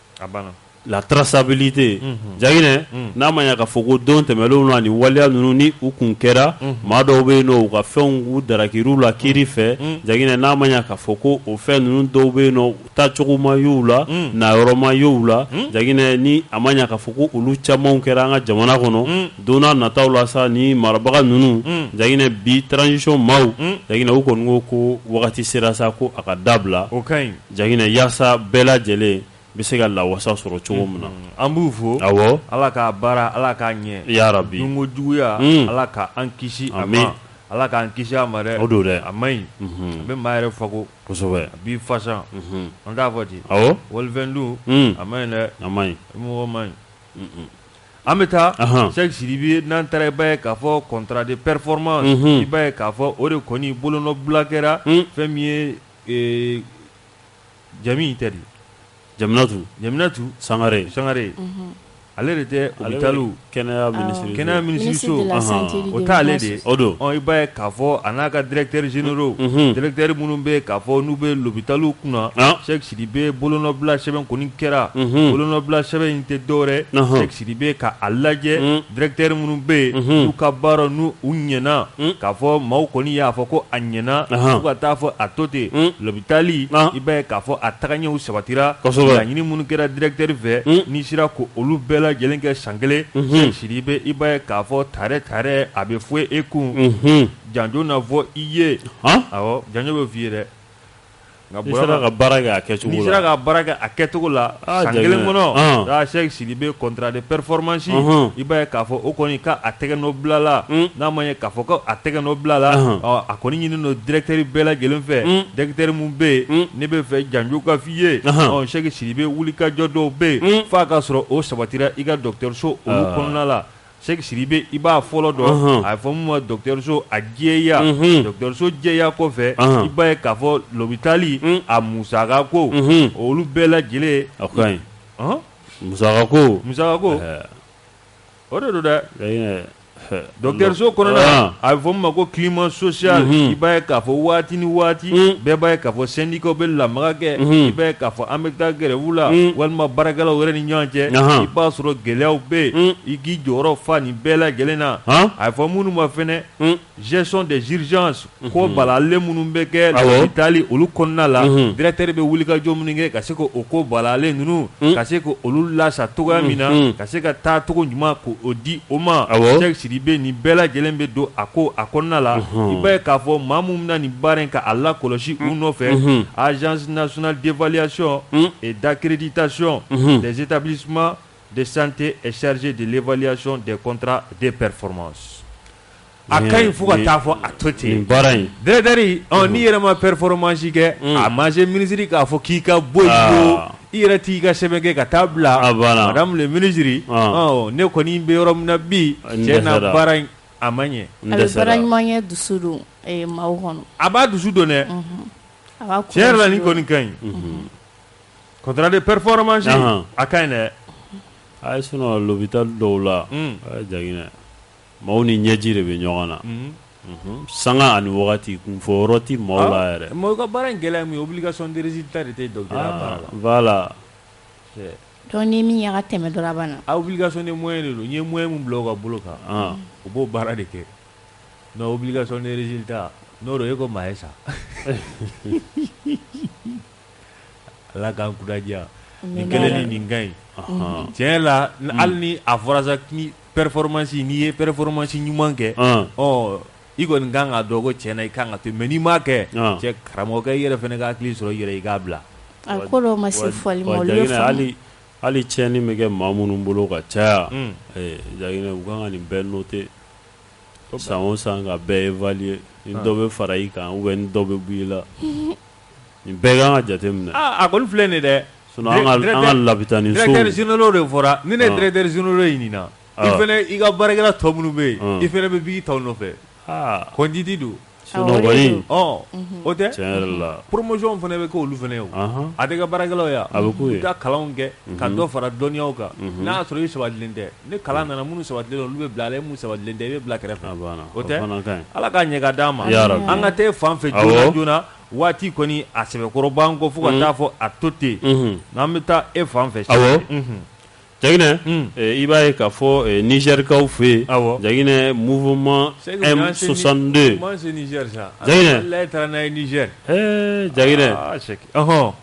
la traçabilité
Jagina n'a ma ɲa ka fɔ ko don tɛmɛlenw la ni waliya ninnu ni u kun kɛra maa dɔw bɛ yen u ka fɛnw u darakir'u la kiiri fɛ Jagina n'a ma ɲa ka fɔ ko o fɛn ninnu dɔw bɛ yen u taacogo ma y'u la nayɔrɔ ma y'u la Jagina ni a ma ɲa ka fɔ ko olu caman kɛra an ka jamana kɔnɔ don nataw la sa ni marabaga ninnu Jagina bi transition maaw Jagina u kɔni ko wagati sera sa ko a ka dabila
Jagina
yaasa bɛɛ lajɛlen bɛ se ka lawasa sɔrɔ cogo min na an b'u fo
a ala
k'a
baara ala k'a ɲɛ ya rabi dunko
juguya
ala k' an kisi a ma ala k'an kisi a ma o don dɛ a ma ɲi a bɛ maa yɛrɛ faga kosɛbɛ a b'i fasa an t'a fɔ ten walifɛn dun a ma ɲi dɛ a ma ɲi mɔgɔ
ma
ɲi an bɛ taa Sɛki Sidibe n'an taara i b'a ye k'a fɔ contrat de performance i b'a ye k'a fɔ o de kɔni bolonɔbila kɛra fɛn min ye Ee Jami in tɛ Jaminatu Jaminatu Sangare Sangare ale de tɛ olu kɛnɛya kɛnɛya minisiriso o t'ale de ye o don i b'a ye
k'a
fɔ a n'a ka directeur généraux directeur minnu bɛ k'a fɔ n'u bɛ lopitali kunna Sɛki Sidibe bolonɔbila sɛbɛn kɔni kɛra bolonɔbila sɛbɛn in tɛ dɔwɛrɛ Sidibe ka a lajɛ unh directeur minnu bɛ yen unhun n'u ka baara n'u ɲɛna unh k'a fɔ maaw kɔni y'a fɔ ko a ɲɛna anhan fo ka taa fɔ a to ten unh lopitali an i b'a ye k'a fɔ a tagaɲɛw sabatira kosɛbɛ laɲini minnu kɛra directeur fɛ unh n'i sera ko olu bɛɛ lajɛlen kɛ san 1 unhun Sɛki Sidibe i b'a ye k'a fɔ tare tare a bɛ fɔ e kun unhun janjo na fɔ i ye han awɔ janjo bɛ f'i ye dɛ N'i
sera ka baara kɛ a kɛcogo la n'i sera ka baara kɛ
a kɛcogo la san kelen kɔnɔ Sɛki Sidibe contrat de performance i b'a ye k'a fɔ o kɔni k'a tɛgɛnɔ bila la n'a ma ɲɛ k'a fɔ ko a tɛgɛnɔ bila la a kɔni ɲini don directeur bɛɛ lajɛlen fɛ directeur minnu bɛ yen ne b'a fɛ janjo ka fɔ i ye Sɛki Sidibe wulikajɔ dɔw bɛ yen fo a k'a sɔrɔ o sabatira i ka dɔgɔtɔrɔso olu kɔnɔna la Sɛki Sidibe i b'a fɔlɔ dɔn a bɛ fɔ min ma dɔgɔtɔrɔso a jɛya dɔgɔtɔrɔso jɛya kɔfɛ i b'a ye k'a fɔ lopitali a musaka ko olu bɛɛ lajɛlen a ka ɲi
musaka ko musaka
ko o de don dɛ dɔgɔtɔrɔso kɔnɔna a bɛ fɔ min ma ko climat social i b'a ye k'a fɔ waati ni waati bɛɛ b'a ye k'a fɔ sɛndi ikaw bɛ lamaga kɛ i bɛ k'a fɔ an bɛ taa grève la walima baarakɛlaw yɛrɛ ni ɲɔgɔn cɛ i b'a sɔrɔ gɛlɛyaw bɛ yen i k'i jɔyɔrɔ fa nin bɛɛ lajɛlen na a bɛ fɔ minnu ma fɛnɛ gestion des urgences ko balalen minnu bɛ kɛ lopitali olu kɔnɔna la directeur bɛ wulikajɔ minnu kɛ ka se k' o ko balalen ninnu ka se k' olu lasa cogoya min na ka se ka taacogo ɲuman k' o di o ma Sidibe nin bɛɛ lajɛlen bɛ don a ko a kɔnɔna la, unhun, i b'a ye k'a fɔ maa minnu bɛna nin baara in k'a lakɔlɔsi u nɔfɛ, unhun, agence nationale d'évaluation et d'accréditation des établissements de santé est chargée de l'évaluation des contrats de performance a ka ɲi fo ka taa fɔ a to ten, nin baara in, directeur
ɔ n'i
yɛrɛ ma performance kɛ a ma se minisiri k'a fɔ k'i ka bɔ yen pewu I yɛrɛ t'i ka sɛbɛn kɛ ka taa bila ah, madame le ministre ah. oh, ne kɔni bɛ yɔrɔ min na bi ah, cɛ na baara in a ma ɲɛ a bɛ baara ɲuman kɛ
dusu don eh, maaw kɔnɔ a b'a dusu don
dɛ mhm. tiɲɛ yɛrɛ la nin kɔni ka ɲi mhm. contrat de performance a ka ɲi dɛ a ye
sinɔn lopitali dɔw la hmm. a ye Jaginɛ Maaw ni ɲɛji de bɛ ɲɔgɔn na sanga ani wagati kun fɔ yɔrɔ tɛ maaw la yɛrɛ mɔgɔ ka baara in gɛlɛya min
ye obligation de résultat de tɛ docteur baara la
donc ni min ka tɛmɛ dɔrɔn a banna obligation de moyen
de don ye moyen min bila ka bolo kan u b'o baara de kɛ mais obligation de résultat n'o ye ko maa ye sa ala k'an kunnadiya nin kelen ni nin ka ɲi cɛ la hali ni a fɔra sa performance n'i ye performance ɲuman kɛ ɔ i kɔni kan ka dɔn ko cɛ na i kan ka to mais n'i m'a kɛ cɛ karamɔgɔkɛ i yɛrɛ fana ka hakili sɔrɔ i yɛrɛ i k'a bila ma
se hali hali
tiɲɛni bɛ kɛ maa minnu bolo ka caya Jaginɛ u kan ka nin bɛɛ noter san o san ka bɛɛ évaluer ni dɔ bɛ fara i kan ou bien dɔ bɛ bɔ i la Nin bɛɛ ka kan ka jate minɛ a kɔni filɛ nin
dɛ sinɔn an
ka labitani directeur généraux de fɔra
ni ne directeur généraux ɲinina i fana i ka baarakɛla tɔ minnu bɛ yen i fana bɛ b'i taw nɔfɛ kɔndidi
don o
tɛ tiɲɛ yɛrɛ la
promotion fana bɛ kɛ
olu fana ye a tɛ kɛ baarakɛlaw yan a bɛ ka kalan
kɛ ka
dɔ fara dɔnniya kan n'a y'a sɔrɔ i sabatilen tɛ Ni kalan nana minnu sabatilen olu bɛ bila a la min sabatilen tɛ i bɛ bila kɛrɛfɛ o tɛ ala k'a ɲɛ k'a d'an ma an ka taa e fan fɛ joona joona waati kɔni a sɛbɛkɔrɔ b'an kɔ fo ka taa fɔ a to ten n'an bɛ taa e fan fɛ
Jaginɛ i b'a ye k'a fɔ nizɛrikaw fɛ yen Jaginɛ mouvement M62 Jaginɛ ale taara
n'a ye
Nizɛri Jaginɛ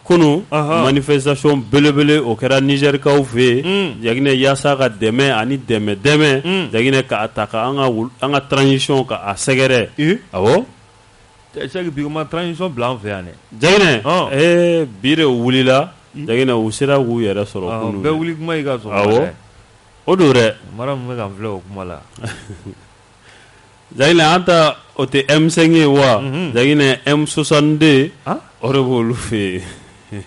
kunun manifestation belebele o kɛra nizɛrikaw fɛ yen Jaginɛ yaasa ka dɛmɛ ani dɛmɛ dɛmɛ Jaginɛ k'a ta an ka transition ka a sɛgɛrɛ
ɔ ma transition bila an fɛ yan
dɛ bi wulila Jaginɛ u sera k'u yɛrɛ sɔrɔ bɛɛ wuli kuma ka sɔrɔ o don mara bɛ ka fila o
kuma la
Jaginɛ an ta o tɛ M5 ye wa? Unhun. Jaginɛ M62 an, o de b'olu fɛ yen.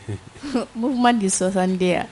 Mouvement
de 62 a?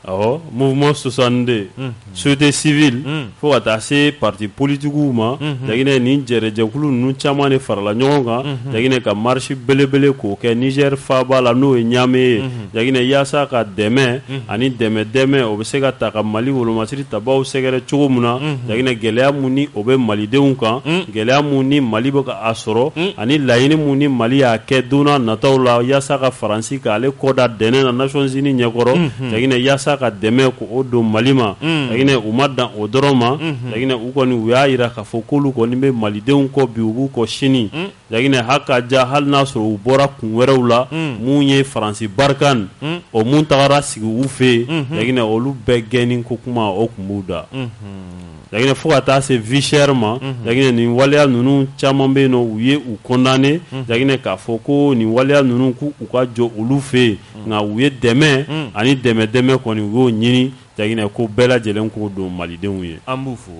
Awɔ,
mouvement 62. Unhun. Société civile. Un! Fo ka taa se partis politiques w ma. Unhun. Jaginɛ nin jɛɛrɛjɛkulu ninnu caman de farala ɲɔgɔn kan. Unhun. Jaginɛ ka marche belebele k'o kɛ Niger faaba la n'o ye Niamey ye. Unhun. Jaginɛ yaasa ka dɛmɛ ani dɛmɛ dɛmɛ o bɛ se ka ta ka mali wolomasiri tabaw sɛgɛrɛ cogo min na Jaginɛ gɛlɛya min ni o bɛ malidenw kan gɛlɛya min ni mali bɛ ka a sɔrɔ ani laɲini min ni mali y'a kɛ don nataw la yaasa ka faransi k'ale kɔ da dɛnɛn na Nations Unies ɲɛkɔrɔ Jaginɛ yaasa ka dɛmɛ k'o don mali ma Jaginɛ u ma dan o dɔrɔn ma Jaginɛ u kɔni u y'a jira k'a fɔ k'olu kɔni bɛ malidenw kɔ bi u b'u kɔ sini Jaginɛ ha ka ja hali n'a sɔrɔ u bɔra kun wɛrɛw la minnu ye faransi Barkhane o minnu tagara sigi u fɛ yen Jaginɛ olu bɛɛ gɛnni ko kuma o tun b'u da Jaginɛ fo ka taa se vie chère ma Jaginɛ nin waleya ninnu caman bɛ yen u ye u condamné Jaginɛ k'a fɔ ko nin waleya ninnu k'u ka jɔ olu fɛ yen nka u ye dɛmɛ ani dɛmɛ dɛmɛ kɔni u y'o ɲini Jaginɛ ko bɛɛ lajɛlen k'o don malidenw ye an b'u
fo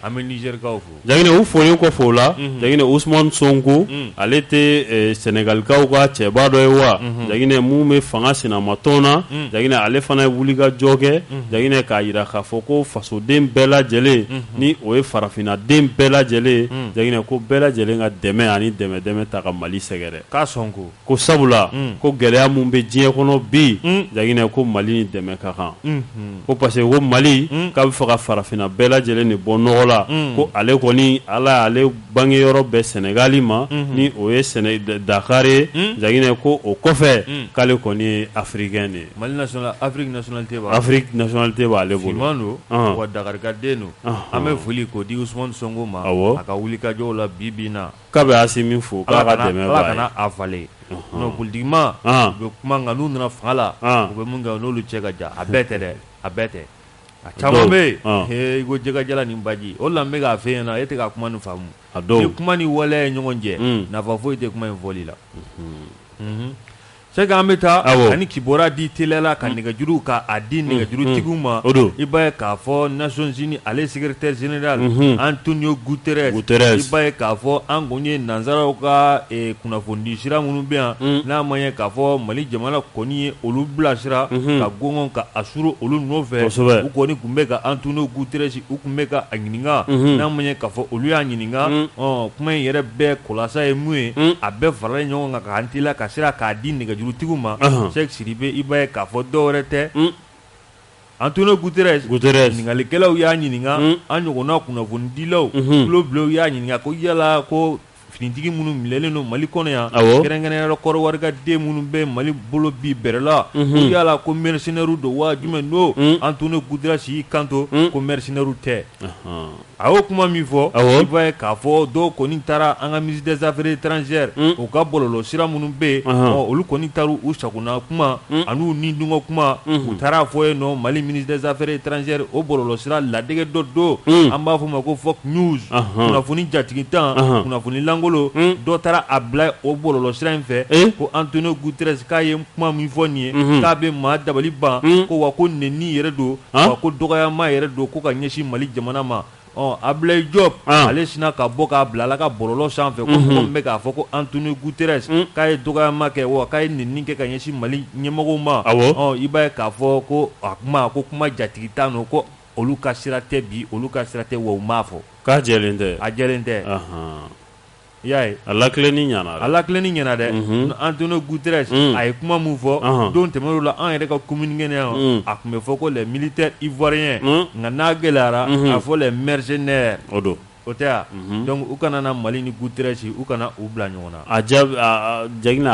an bɛ Nigerikaw fo Jaginɛ u folen kɔfɛ
o la Jaginɛ Ousmane Sonko ale tɛ sɛnɛgalikaw ka cɛba dɔ ye wa Jaginɛ min bɛ fanga sinamatɔn na Jaginɛ ale fana ye wulikajɔ kɛ Jaginɛ k'a jira k'a fɔ ko fasoden bɛɛ lajɛlen ni o ye farafinna den bɛɛ lajɛlen Jaginɛ ko bɛɛ lajɛlen ka dɛmɛ ani dɛmɛ dɛmɛ ta ka mali sɛgɛrɛ k'a sɔn ko
ko
sabula ko gɛlɛya min bɛ diɲɛ kɔnɔ bi Jaginɛ ko mali ni dɛmɛ ka kan ko parce que ko mali k'a b'a fɛ ka farafinna bɛɛ lajɛlen de bɔ nɔgɔ la ko ale kɔni ala y'ale bangeyɔrɔ bɛn sɛnɛgali ma ni o ye sɛnɛ dakari ye Jaginɛ ko o kɔfɛ k'ale kɔni ye africain de ye mali national Afrique nationalité b'ale bolo
finman don wa dakarika den don an bɛ foli k'o di Ousmane Sonko ma a ka wulikajɔ la bi bi in na K'a bɛ Asimi
fo k'a ka dɛmɛ b'a ye Ala kana a
falen non politique maaw bɛ kuma nka n'u nana fanga la u bɛ min kɛ o n'olu cɛ ka jan a bɛɛ tɛ dɛ a bɛɛ tɛ a caman bɛ yen he i ko jɛgɛjalan ni baji o de la n bɛ k'a f'e ɲɛna e tɛ ka kuma nin faamu ni kuma ni waleya ye ɲɔgɔn jɛ nafa foyi tɛ kuma in fɔli la. C'est que an bɛ taa ka nin kibaro di teliya la ka nɛgɛjuru k'a di nɛgɛjurutigiw ma o don i b'a ye k'a fɔ Nations Unies ale secrétaire général Antonio Guterres i b'a ye k'a fɔ an kɔni ye nansaraw ka kunnafonidisira minnu bɛ yan n'a ma ye k'a fɔ mali jamana kɔni ye olu bilasira ka gɔngɔn ka a suuru olu nɔfɛ u kɔni tun bɛ ka Antonio Guterres u tun bɛ ka a ɲininka n'an m'a ye k'a fɔ olu y'a ɲininka kuma in yɛrɛ bɛɛ kulasa ye mun ye a bɛɛ faralen ɲɔgɔn kan k'an teliya ka sira k'a di nɛgɛjurutigiw ma Cheikh Sidibe i b'a ye k'a fɔ dɔ wɛrɛ tɛ Antonio Guterres ɲininkalikɛlaw y'a ɲininka an ɲɔgɔnna kunnafonidilaw tulobilenw y'a ɲininka ko yala ko Finitigi minnu minɛlen don mali kɔnɔ yan kɛrɛnkɛrɛnya la kɔrɔwari ka den minnu bɛ mali bolo bi bɛrɛ la ko yala ko mercenaires don wa jumɛn don Antonio Guterres y'i kanto ko mercenaires tɛ a y'o kuma min fɔ i b'a ye k'a fɔ dɔw kɔni taara an ka ministre des affaires étrangères u ka bɔlɔlɔsira minnu bɛ yen olu kɔni taara u sagona kuma ani u nidungɔ kuma u taara a fɔ yen nɔ mali ministre des affaires étrangères o bɔlɔlɔsira ladege dɔ don an b'a f' o ma ko fake news kunnafoni jatigitan kunnafoni lankolon dɔ taara a bila o bɔlɔlɔsira in fɛ ko Antonio Guterres k'a ye kuma min fɔ nin ye k'a bɛ maa dabali ban ko wa ko nɛni yɛrɛ don wa ko dɔgɔyama yɛrɛ don ko ka ɲɛsin mali jamana ma Ɔ Ablaye Diop ale sinna ka bɔ k'a bila ale ka bɔlɔlɔ sanfɛ ko mɔgɔ min bɛ k'a fɔ ko Antonio Guterres k'a ye dɔgɔyama kɛ wa k'a ye nɛni kɛ ka ɲɛsin mali ɲɛmɔgɔw ma i b'a ye k'a fɔ ko a kuma ko kuma jatigitan don ko olu ka sira tɛ bi olu ka sira tɛ wa u m'a fɔ k'a jɛlen tɛ a
jɛlen tɛ
i y'a ye a lakileni ɲɛna
a lakileni ɲɛna dɛ Antonio
Guterres a ye kuma min fɔ don tɛmɛnenw la an yɛrɛ ka communiqué na a tun bɛ fɔ ko les militaires ivoiriens nka n'a gɛlɛyara a fɔ les mercenaires o don o tɛ
yan
dɔnku u kana na mali ni Guterres u kana u bila ɲɔgɔn na
a ja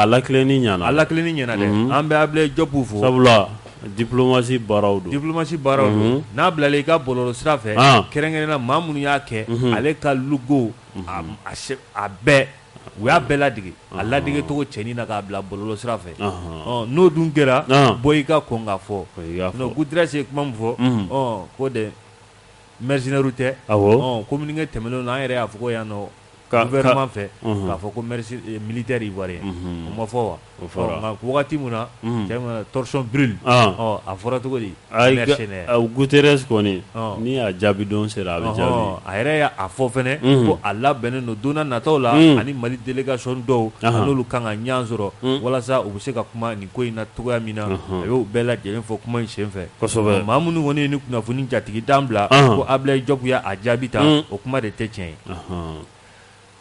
a lakileni ɲ a lakileni ɲɛna dɛ an bɛ Ablaye
Diop fo
sabula diplomatie baaraw don diplomatie baaraw
don n'a bilala i ka bɔlɔlɔ sira fɛ kɛrɛnkɛrɛnna maa minnu y'a kɛ ale ka logo a bɛɛ u y'a bɛɛ lade a ladeigi tɔgɔ cɛnin na k'a bila bolo sira fɛ n'o dun kɛra bɔ i ka kɔn ka fɔ g se kuma min fɔ ko de mzinauru tɛ ko minikɛ tɛmɛnen na an yɛrɛ y'a fɔ yan nɔ' wɛrɛma fɛ k'a fɔ ko minitere wari o ma fɔ wa wagati min na torchon brûle a fɔra cogo di mercenaires
Guterres kɔni ni a jaabi don sera a bɛ jaabi a yɛrɛ y' a fɔ
fana ko a labɛnnen don don nataw la ani mali délégation dɔw n'olu kan ka ɲɔgɔn sɔrɔ walasa u bɛ se ka kuma nin ko in na cogoya min na a y'o bɛɛ lajɛlen fɔ kuma in senfɛ maa minnu kɔni
ye
nin kunnafoni jatigitan bila ko Ablaye Diop y'a jaabi ta o kuma de tɛ tiɲɛ ye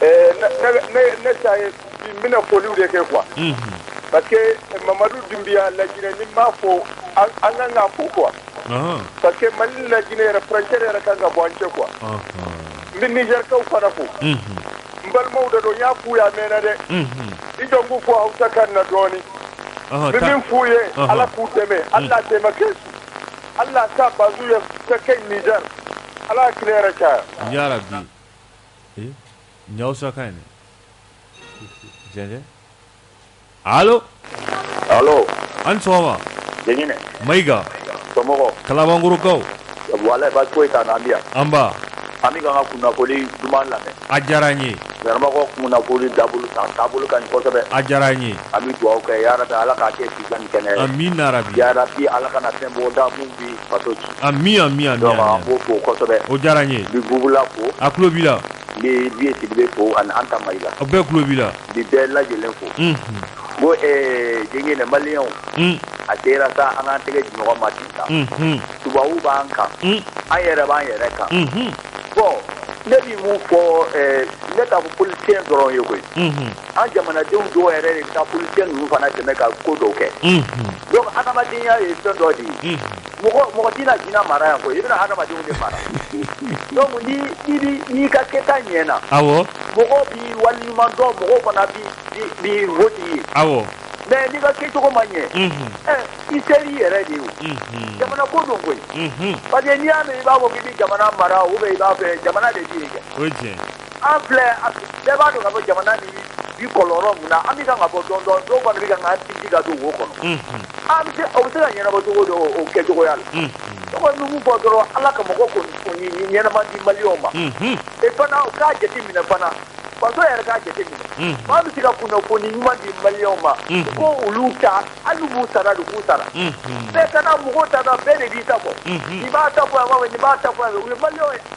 ne ta ye n bɛna foliw de kɛ quoi parce que Mamadu Dunbiya laginɛ n'i m'a fo an ka kan k'a fo quoi parce que Mali ni laginɛ yɛrɛ frontière yɛrɛ ka kan ka bɔ an cɛ quoi n bɛ nizɛrikaw fana fo n balimaw de don n y'a f'u ye a mɛnna dɛ i jɔ n k'u fo Hawusa kan na dɔɔni n bɛ min f'u ye Ala k'u dɛmɛ Ala taimake su Ala ka Bazu ye ka kɛ Nizɛri Ala ka tile hɛrɛ caya.
ee nin ye Hawusa kan ye dɛ jɛnjɛn allo allo a' ni sɔgɔma Jɛɲinɛ Mayiga somɔgɔw
Kalabankɔrɔkaw
walayi baasi
foyi t'an na an bɛ yan nba an
bɛ k'an
ka kunnafoni duman lamɛn a diyara an
ye vraiment ko
kunnafoni taabolo a taabolo ka ɲi kosɛbɛ a diyara an ye an
bɛ dugawu kɛ
yarabi ala k'a kɛ si jan ni kɛnɛ ye amiina yarabi yarabi
ala kana fɛn
bɔ da mun bi faso ci. Amin amin an
b'o
fo kosɛbɛ. O diyara n ye. N
bɛ Bubula fo.
A tulo b'i
la. N bɛ Biye Sidibe
fo ani Anta Mayiga. A bɛɛ tulo b'i la.
N bɛ bɛɛ lajɛlen
fo. Bɔn ɛɛ Jɛɲinɛ maliyɛnw. A sera sa an k'an tɛgɛ di ɲɔgɔn ma sisan. Tubabu b'an kan. An yɛrɛ b'an yɛrɛ kan. Bɔn ne bɛ mun fɔ ɛɛ ne t'a fɔ politicien dɔrɔn ye koyi an jamanadenw dɔw yɛrɛ de bɛ taa politicien ninnu fana dɛmɛ ka ko dɔw kɛ donc hadamadenya ye fɛn dɔ de ye, unhun, mɔgɔ tɛna jinɛ mara yan koyi, i bɛna hadamadenw de mara donc ni i b'i n'i ka kɛta ɲɛna, awɔ, mɔgɔ b'i waleɲuman dɔn, mɔgɔw fana b'i b'i b'i vote i ye, awɔ, mais n'i ka kɛcogo ma ɲɛ, unhun, ɛ i sera i yɛrɛ de ye o, unhun, jamana ko don koyi, unhun, parce que n'i y'a mɛn i b'a fɔ k'i bɛ jamana mara ou bien i b'a fɛ jamana de tɛ yen kɛ, o ye tiɲɛ ye. an filɛ bɛɛ b'a dɔn k'a fɔ jamana nin bɛ kɔlɔn mun na an bɛ kan ka bɔ dɔɔnin dɔɔnin dɔw kɔni bɛ kan k'an sinsin ka don wo kɔnɔ o bɛ se ka ɲɛnabɔ cogo dɔ o kɛ cogoya la n kɔni bɛ mun fɔ dɔrɔn ala ka mɔgɔ kɔni ɲɛnama di maliyɛnw ma e fana o k'a jate minɛ fana faso yɛrɛ k'a jate minɛ maa min bɛ se ka kunnafoni ɲuman di maliyɛnw ma ko olu ta Ala b'u sara de k'u sara bɛɛ kana mɔgɔw ta bɛɛ de b'i ta fɔ nin b'a ta fɔ yan nin b'a ta fɔ yan mali ye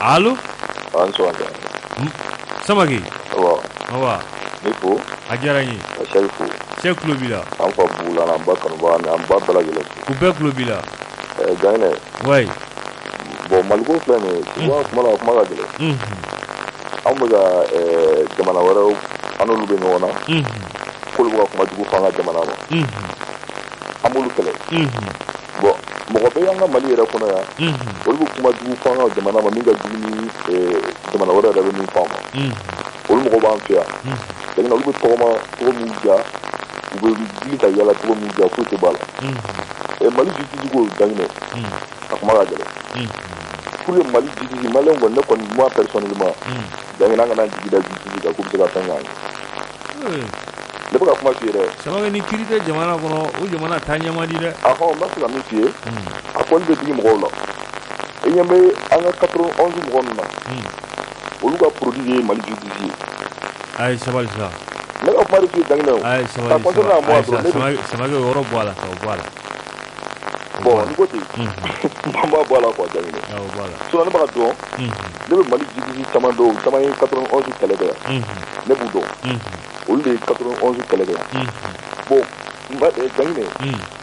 Alo a' ni sɔgɔma Samake awɔ n b'i fo
a diyara n ye n bɛ
Sɛki fo
Sɛki tulo b'i la
an fa Bula an
ba Kanba ni an ba bɛɛ lajɛlen fo u bɛɛ tulo b'i la
ɛɛ
jaɲinɛ
wayi
bɔn maliko filɛ nin ye tu vois a kuma la a kuma ka gɛlɛn Mhm, an bɛ ka ɛɛ jamana wɛrɛw an n'olu bɛ ɲɔgɔn na mhm, k'olu bɛ ka kuma jugu fɔ an ka jamana ma mhm. an b'olu kɛlɛ bɔn mɔgɔ bɛ an ka mali yɛrɛ kɔnɔ yan olu bɛ kuma jugu f'an ka jamana ma min ka jugu ni jamana wɛrɛ yɛrɛ bɛ min f'an ma olu mɔgɔ b'an fɛ yan Janginɛ olu bɛ tɔgɔma cogo min ja u bɛ wuli ka yaala cogo min ja foyi tɛ b'a la mali justice ko Janginɛ a kuma ka gɛlɛn pour que mali justice maliyɛn kɔni ne kɔni moi personnellement Janginɛ an kana jigi da justice kan k'u bɛ se ka fɛn k'an ye ne bɛ ka kuma f'i ye dɛ Samake ni kiiri tɛ
jamana kɔnɔ o jamana taa ɲɛ man di dɛ a fɔ n bɛ se ka min f'i ye
a kɔni bɛ digi mɔgɔw la e ɲɛ bɛ an ka 91 mɔgɔ ninnu na olu ka produit ye mali justice ye a ye
sabali sa ne ka kuma de f'i
ye Janginɛ a ye
sabali Samake o yɔrɔ bɔ a la ka bɔ a la
bɔn n'i ko ten n b'a bɔ a la quoi Janginɛ sinon ne b'a dɔn ne bɛ mali justice caman dɔn caman ye 91 kɛlɛ kɛ yan ne b'u dɔn olu de ye 91 kɛlɛ kɛ yan bɔn Janginɛ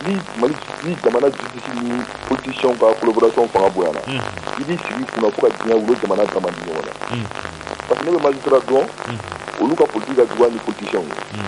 ni jamana justice ni politiciens ka collaboration fanga bonyana i b'i sigi kunna fo ka diɲɛ wuli o jamana da man di ɲɔgɔn na parce que ne bɛ magistrat dɔn olu ka politique ka jugu hali ni politiciens ye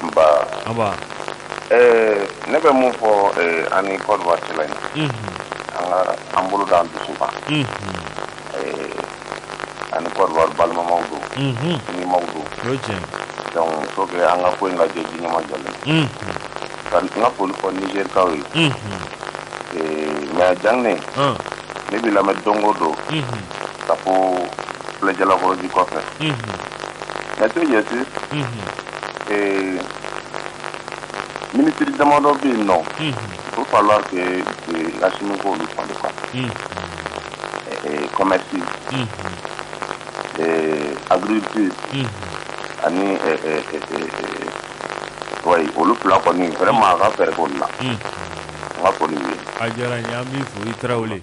nba anba
ɛɛ ne bɛ mun fɔ ɛɛ an ni Côte d'Ivoire cɛla in an ka an bolo da an dusu kan ɛɛ an ni Côte d'Ivoire balimamaw don sinjimaw don o ye tiɲɛ
donc il faut que an
ka ko in lajɛ ji ɲɛmajɔlen ye ka n ka foli fɔ Nizerikaw ye ɛɛ mais Janginɛ an ne b'i lamɛn don o don ka bɔ filɛ Jalakɔrɔji kɔfɛ mais ce qui est sûr ee minisiri damadɔ bɛ yen nɔ il va falloir que Asimi k'olu falen quoi commerce agriculture ani wayi olu fila kɔni vraiment a ka fɛɛrɛ k'olu la n ka foli ye a diyara n ye an b'i
fo i tarawele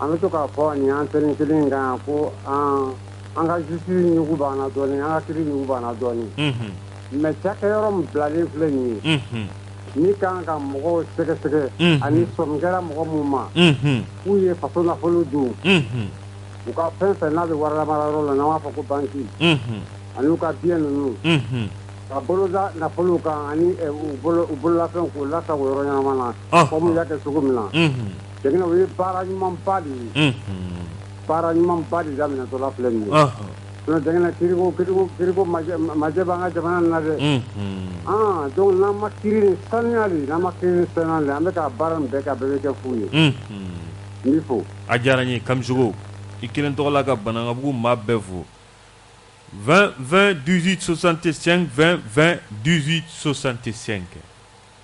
an bɛ to k'a fɔ nin antenne kelen kan ko an ka justice ɲugu b'an na dɔɔnin an ka kiiri ɲugu b'an na dɔɔnin mais cakɛyɔrɔ min bilalen filɛ nin ye min ka kan ka mɔgɔw sɛgɛsɛgɛ ani sɔmi kɛra mɔgɔ minnu ma k'u ye faso nafolo dun u ka fɛn fɛn n'a bɛ warilamarayɔrɔ la n'an b'a fɔ ko banki ani u ka biens ninnu ka bolo da nafolo kan ani u bololafɛn k'u lasagon yɔrɔ ɲɛnama na comme u y'a kɛ cogo min na o ye baara ɲumanba de ye baara ɲumanba de daminɛtɔla filɛ nin ye sinon Janginɛ kiiriko kiiriko kiiriko majɛ majɛ b'an ka jamana in na dɛ ɔɔn donc n'an ma kiiri nin sanuya de n'an ma kiiri nin sanuya de an bɛ ka baara min bɛɛ kɛ a bɛɛ bɛ kɛ fu ye n b'i fo a diyara n ye
Kamisɔkɔ i kelen tɔgɔ la ka Banankabugu maa bɛɛ fo 20 20 18 65 20 20 18 65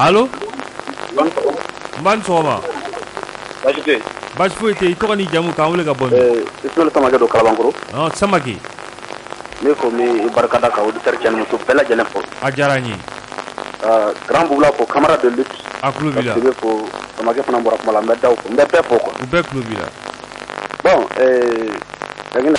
Allo a' ni sɔgɔma nba i ni sɔgɔma baasi tɛ yen baasi foyi tɛ yen i tɔgɔ n'i jamu k'an wele ka bɔ min ɛɛ Isimayɛlu Samake don
Kalabankɔrɔ ɔɔ Samake Ne ko n b'i barika da ka auditeur cɛ ni muso bɛɛ lajɛlen fo a diyara n ye grand Boubla ko camarade de lutte a tulo b'i la ko samakɛ fana bɔra kuma la n bɛ da n bɛ bɛɛ fo ko u bɛɛ tulo b'i la
bon
da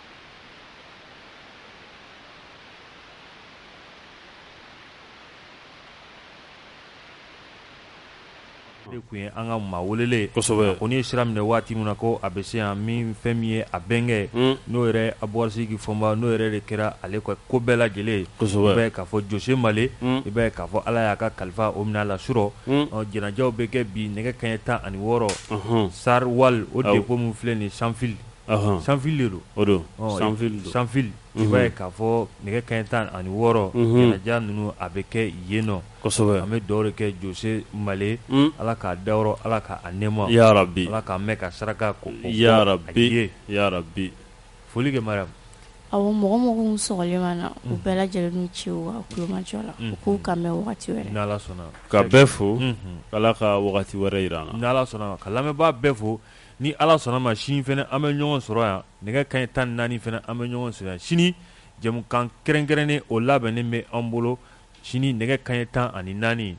kun ye an ka maa welelen kɔni ye sira minɛ waati min na ko a bɛ se yan min fɛn min ye a bɛnkɛ n'o yɛrɛ Abuwasigi Fɔnba n'o yɛrɛ de kɛra ale ka ko bɛɛ lajɛlen i b'a ye k'a fɔ Jose Male i b'a ye k'a fɔ ala y'a ka kalifa o minɛ a la surɔ janajaw bɛ kɛ bi nɛgɛ kanɲɛ tan ani wɔɔrɔ Star Oil o dépôt min filɛ nin Sanfili sanfi
sanfi'a
k'a fɔ nɛgɛ kɛ tan ani wɔɔrɔ ja ninnu a bɛ kɛ yen nɔ kosɛbɛ an bɛ dɔw kɛ
jose
male ala k'a da yɔrɔ ala k' a nɛma bi ala k'a mɛn
ka saraka
ko
bi foli kɛ
mara a mɔgɔ mɔgɔ
slen na u bɛɛ lajɛlen ci kumajɔ la k'u ka sɔnna ka
bɛɛ fo
ala ka wɛrɛ jira sɔnna ka lamɛnbaa
bɛɛ fo Ni ala sɔnna ma sini fɛnɛ an bɛ ɲɔgɔn sɔrɔ yan nɛgɛ kanɲɛ tan naani fɛnɛ an bɛ ɲɔgɔn sɔrɔ yan sini jɛmukan kɛrɛnkɛrɛnnen o labɛnnen bɛ an bolo sini nɛgɛ kanɲɛ tan ani naani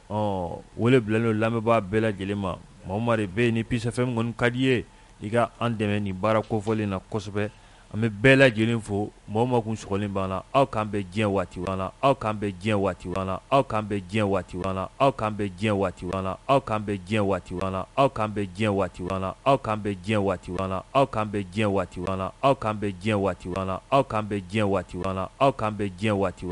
ɔ wele bilalen don lamɛnbaa bɛɛ lajɛlen ma maa o maa bɛ yen ni Peace FM kɔni ka di i ye i ka an dɛmɛ nin baara kofɔlen na kosɛbɛ An bɛ bɛɛ lajɛlen fo mɔgɔ ma kun sɔgɔlen b'an na aw k'an bɛ diɲɛ waati la aw k'an bɛ diɲɛ waati la aw k'an bɛ diɲɛ waati la aw k'an bɛ diɲɛ waati la aw k'an bɛ diɲɛ waati la aw k'an bɛ diɲɛ waati la aw k'an bɛ diɲɛ waati la aw k'an bɛ diɲɛ waati la aw k'an bɛ diɲɛ waati la aw k'an bɛ diɲɛ waati la aw k'an bɛ diɲɛ waati la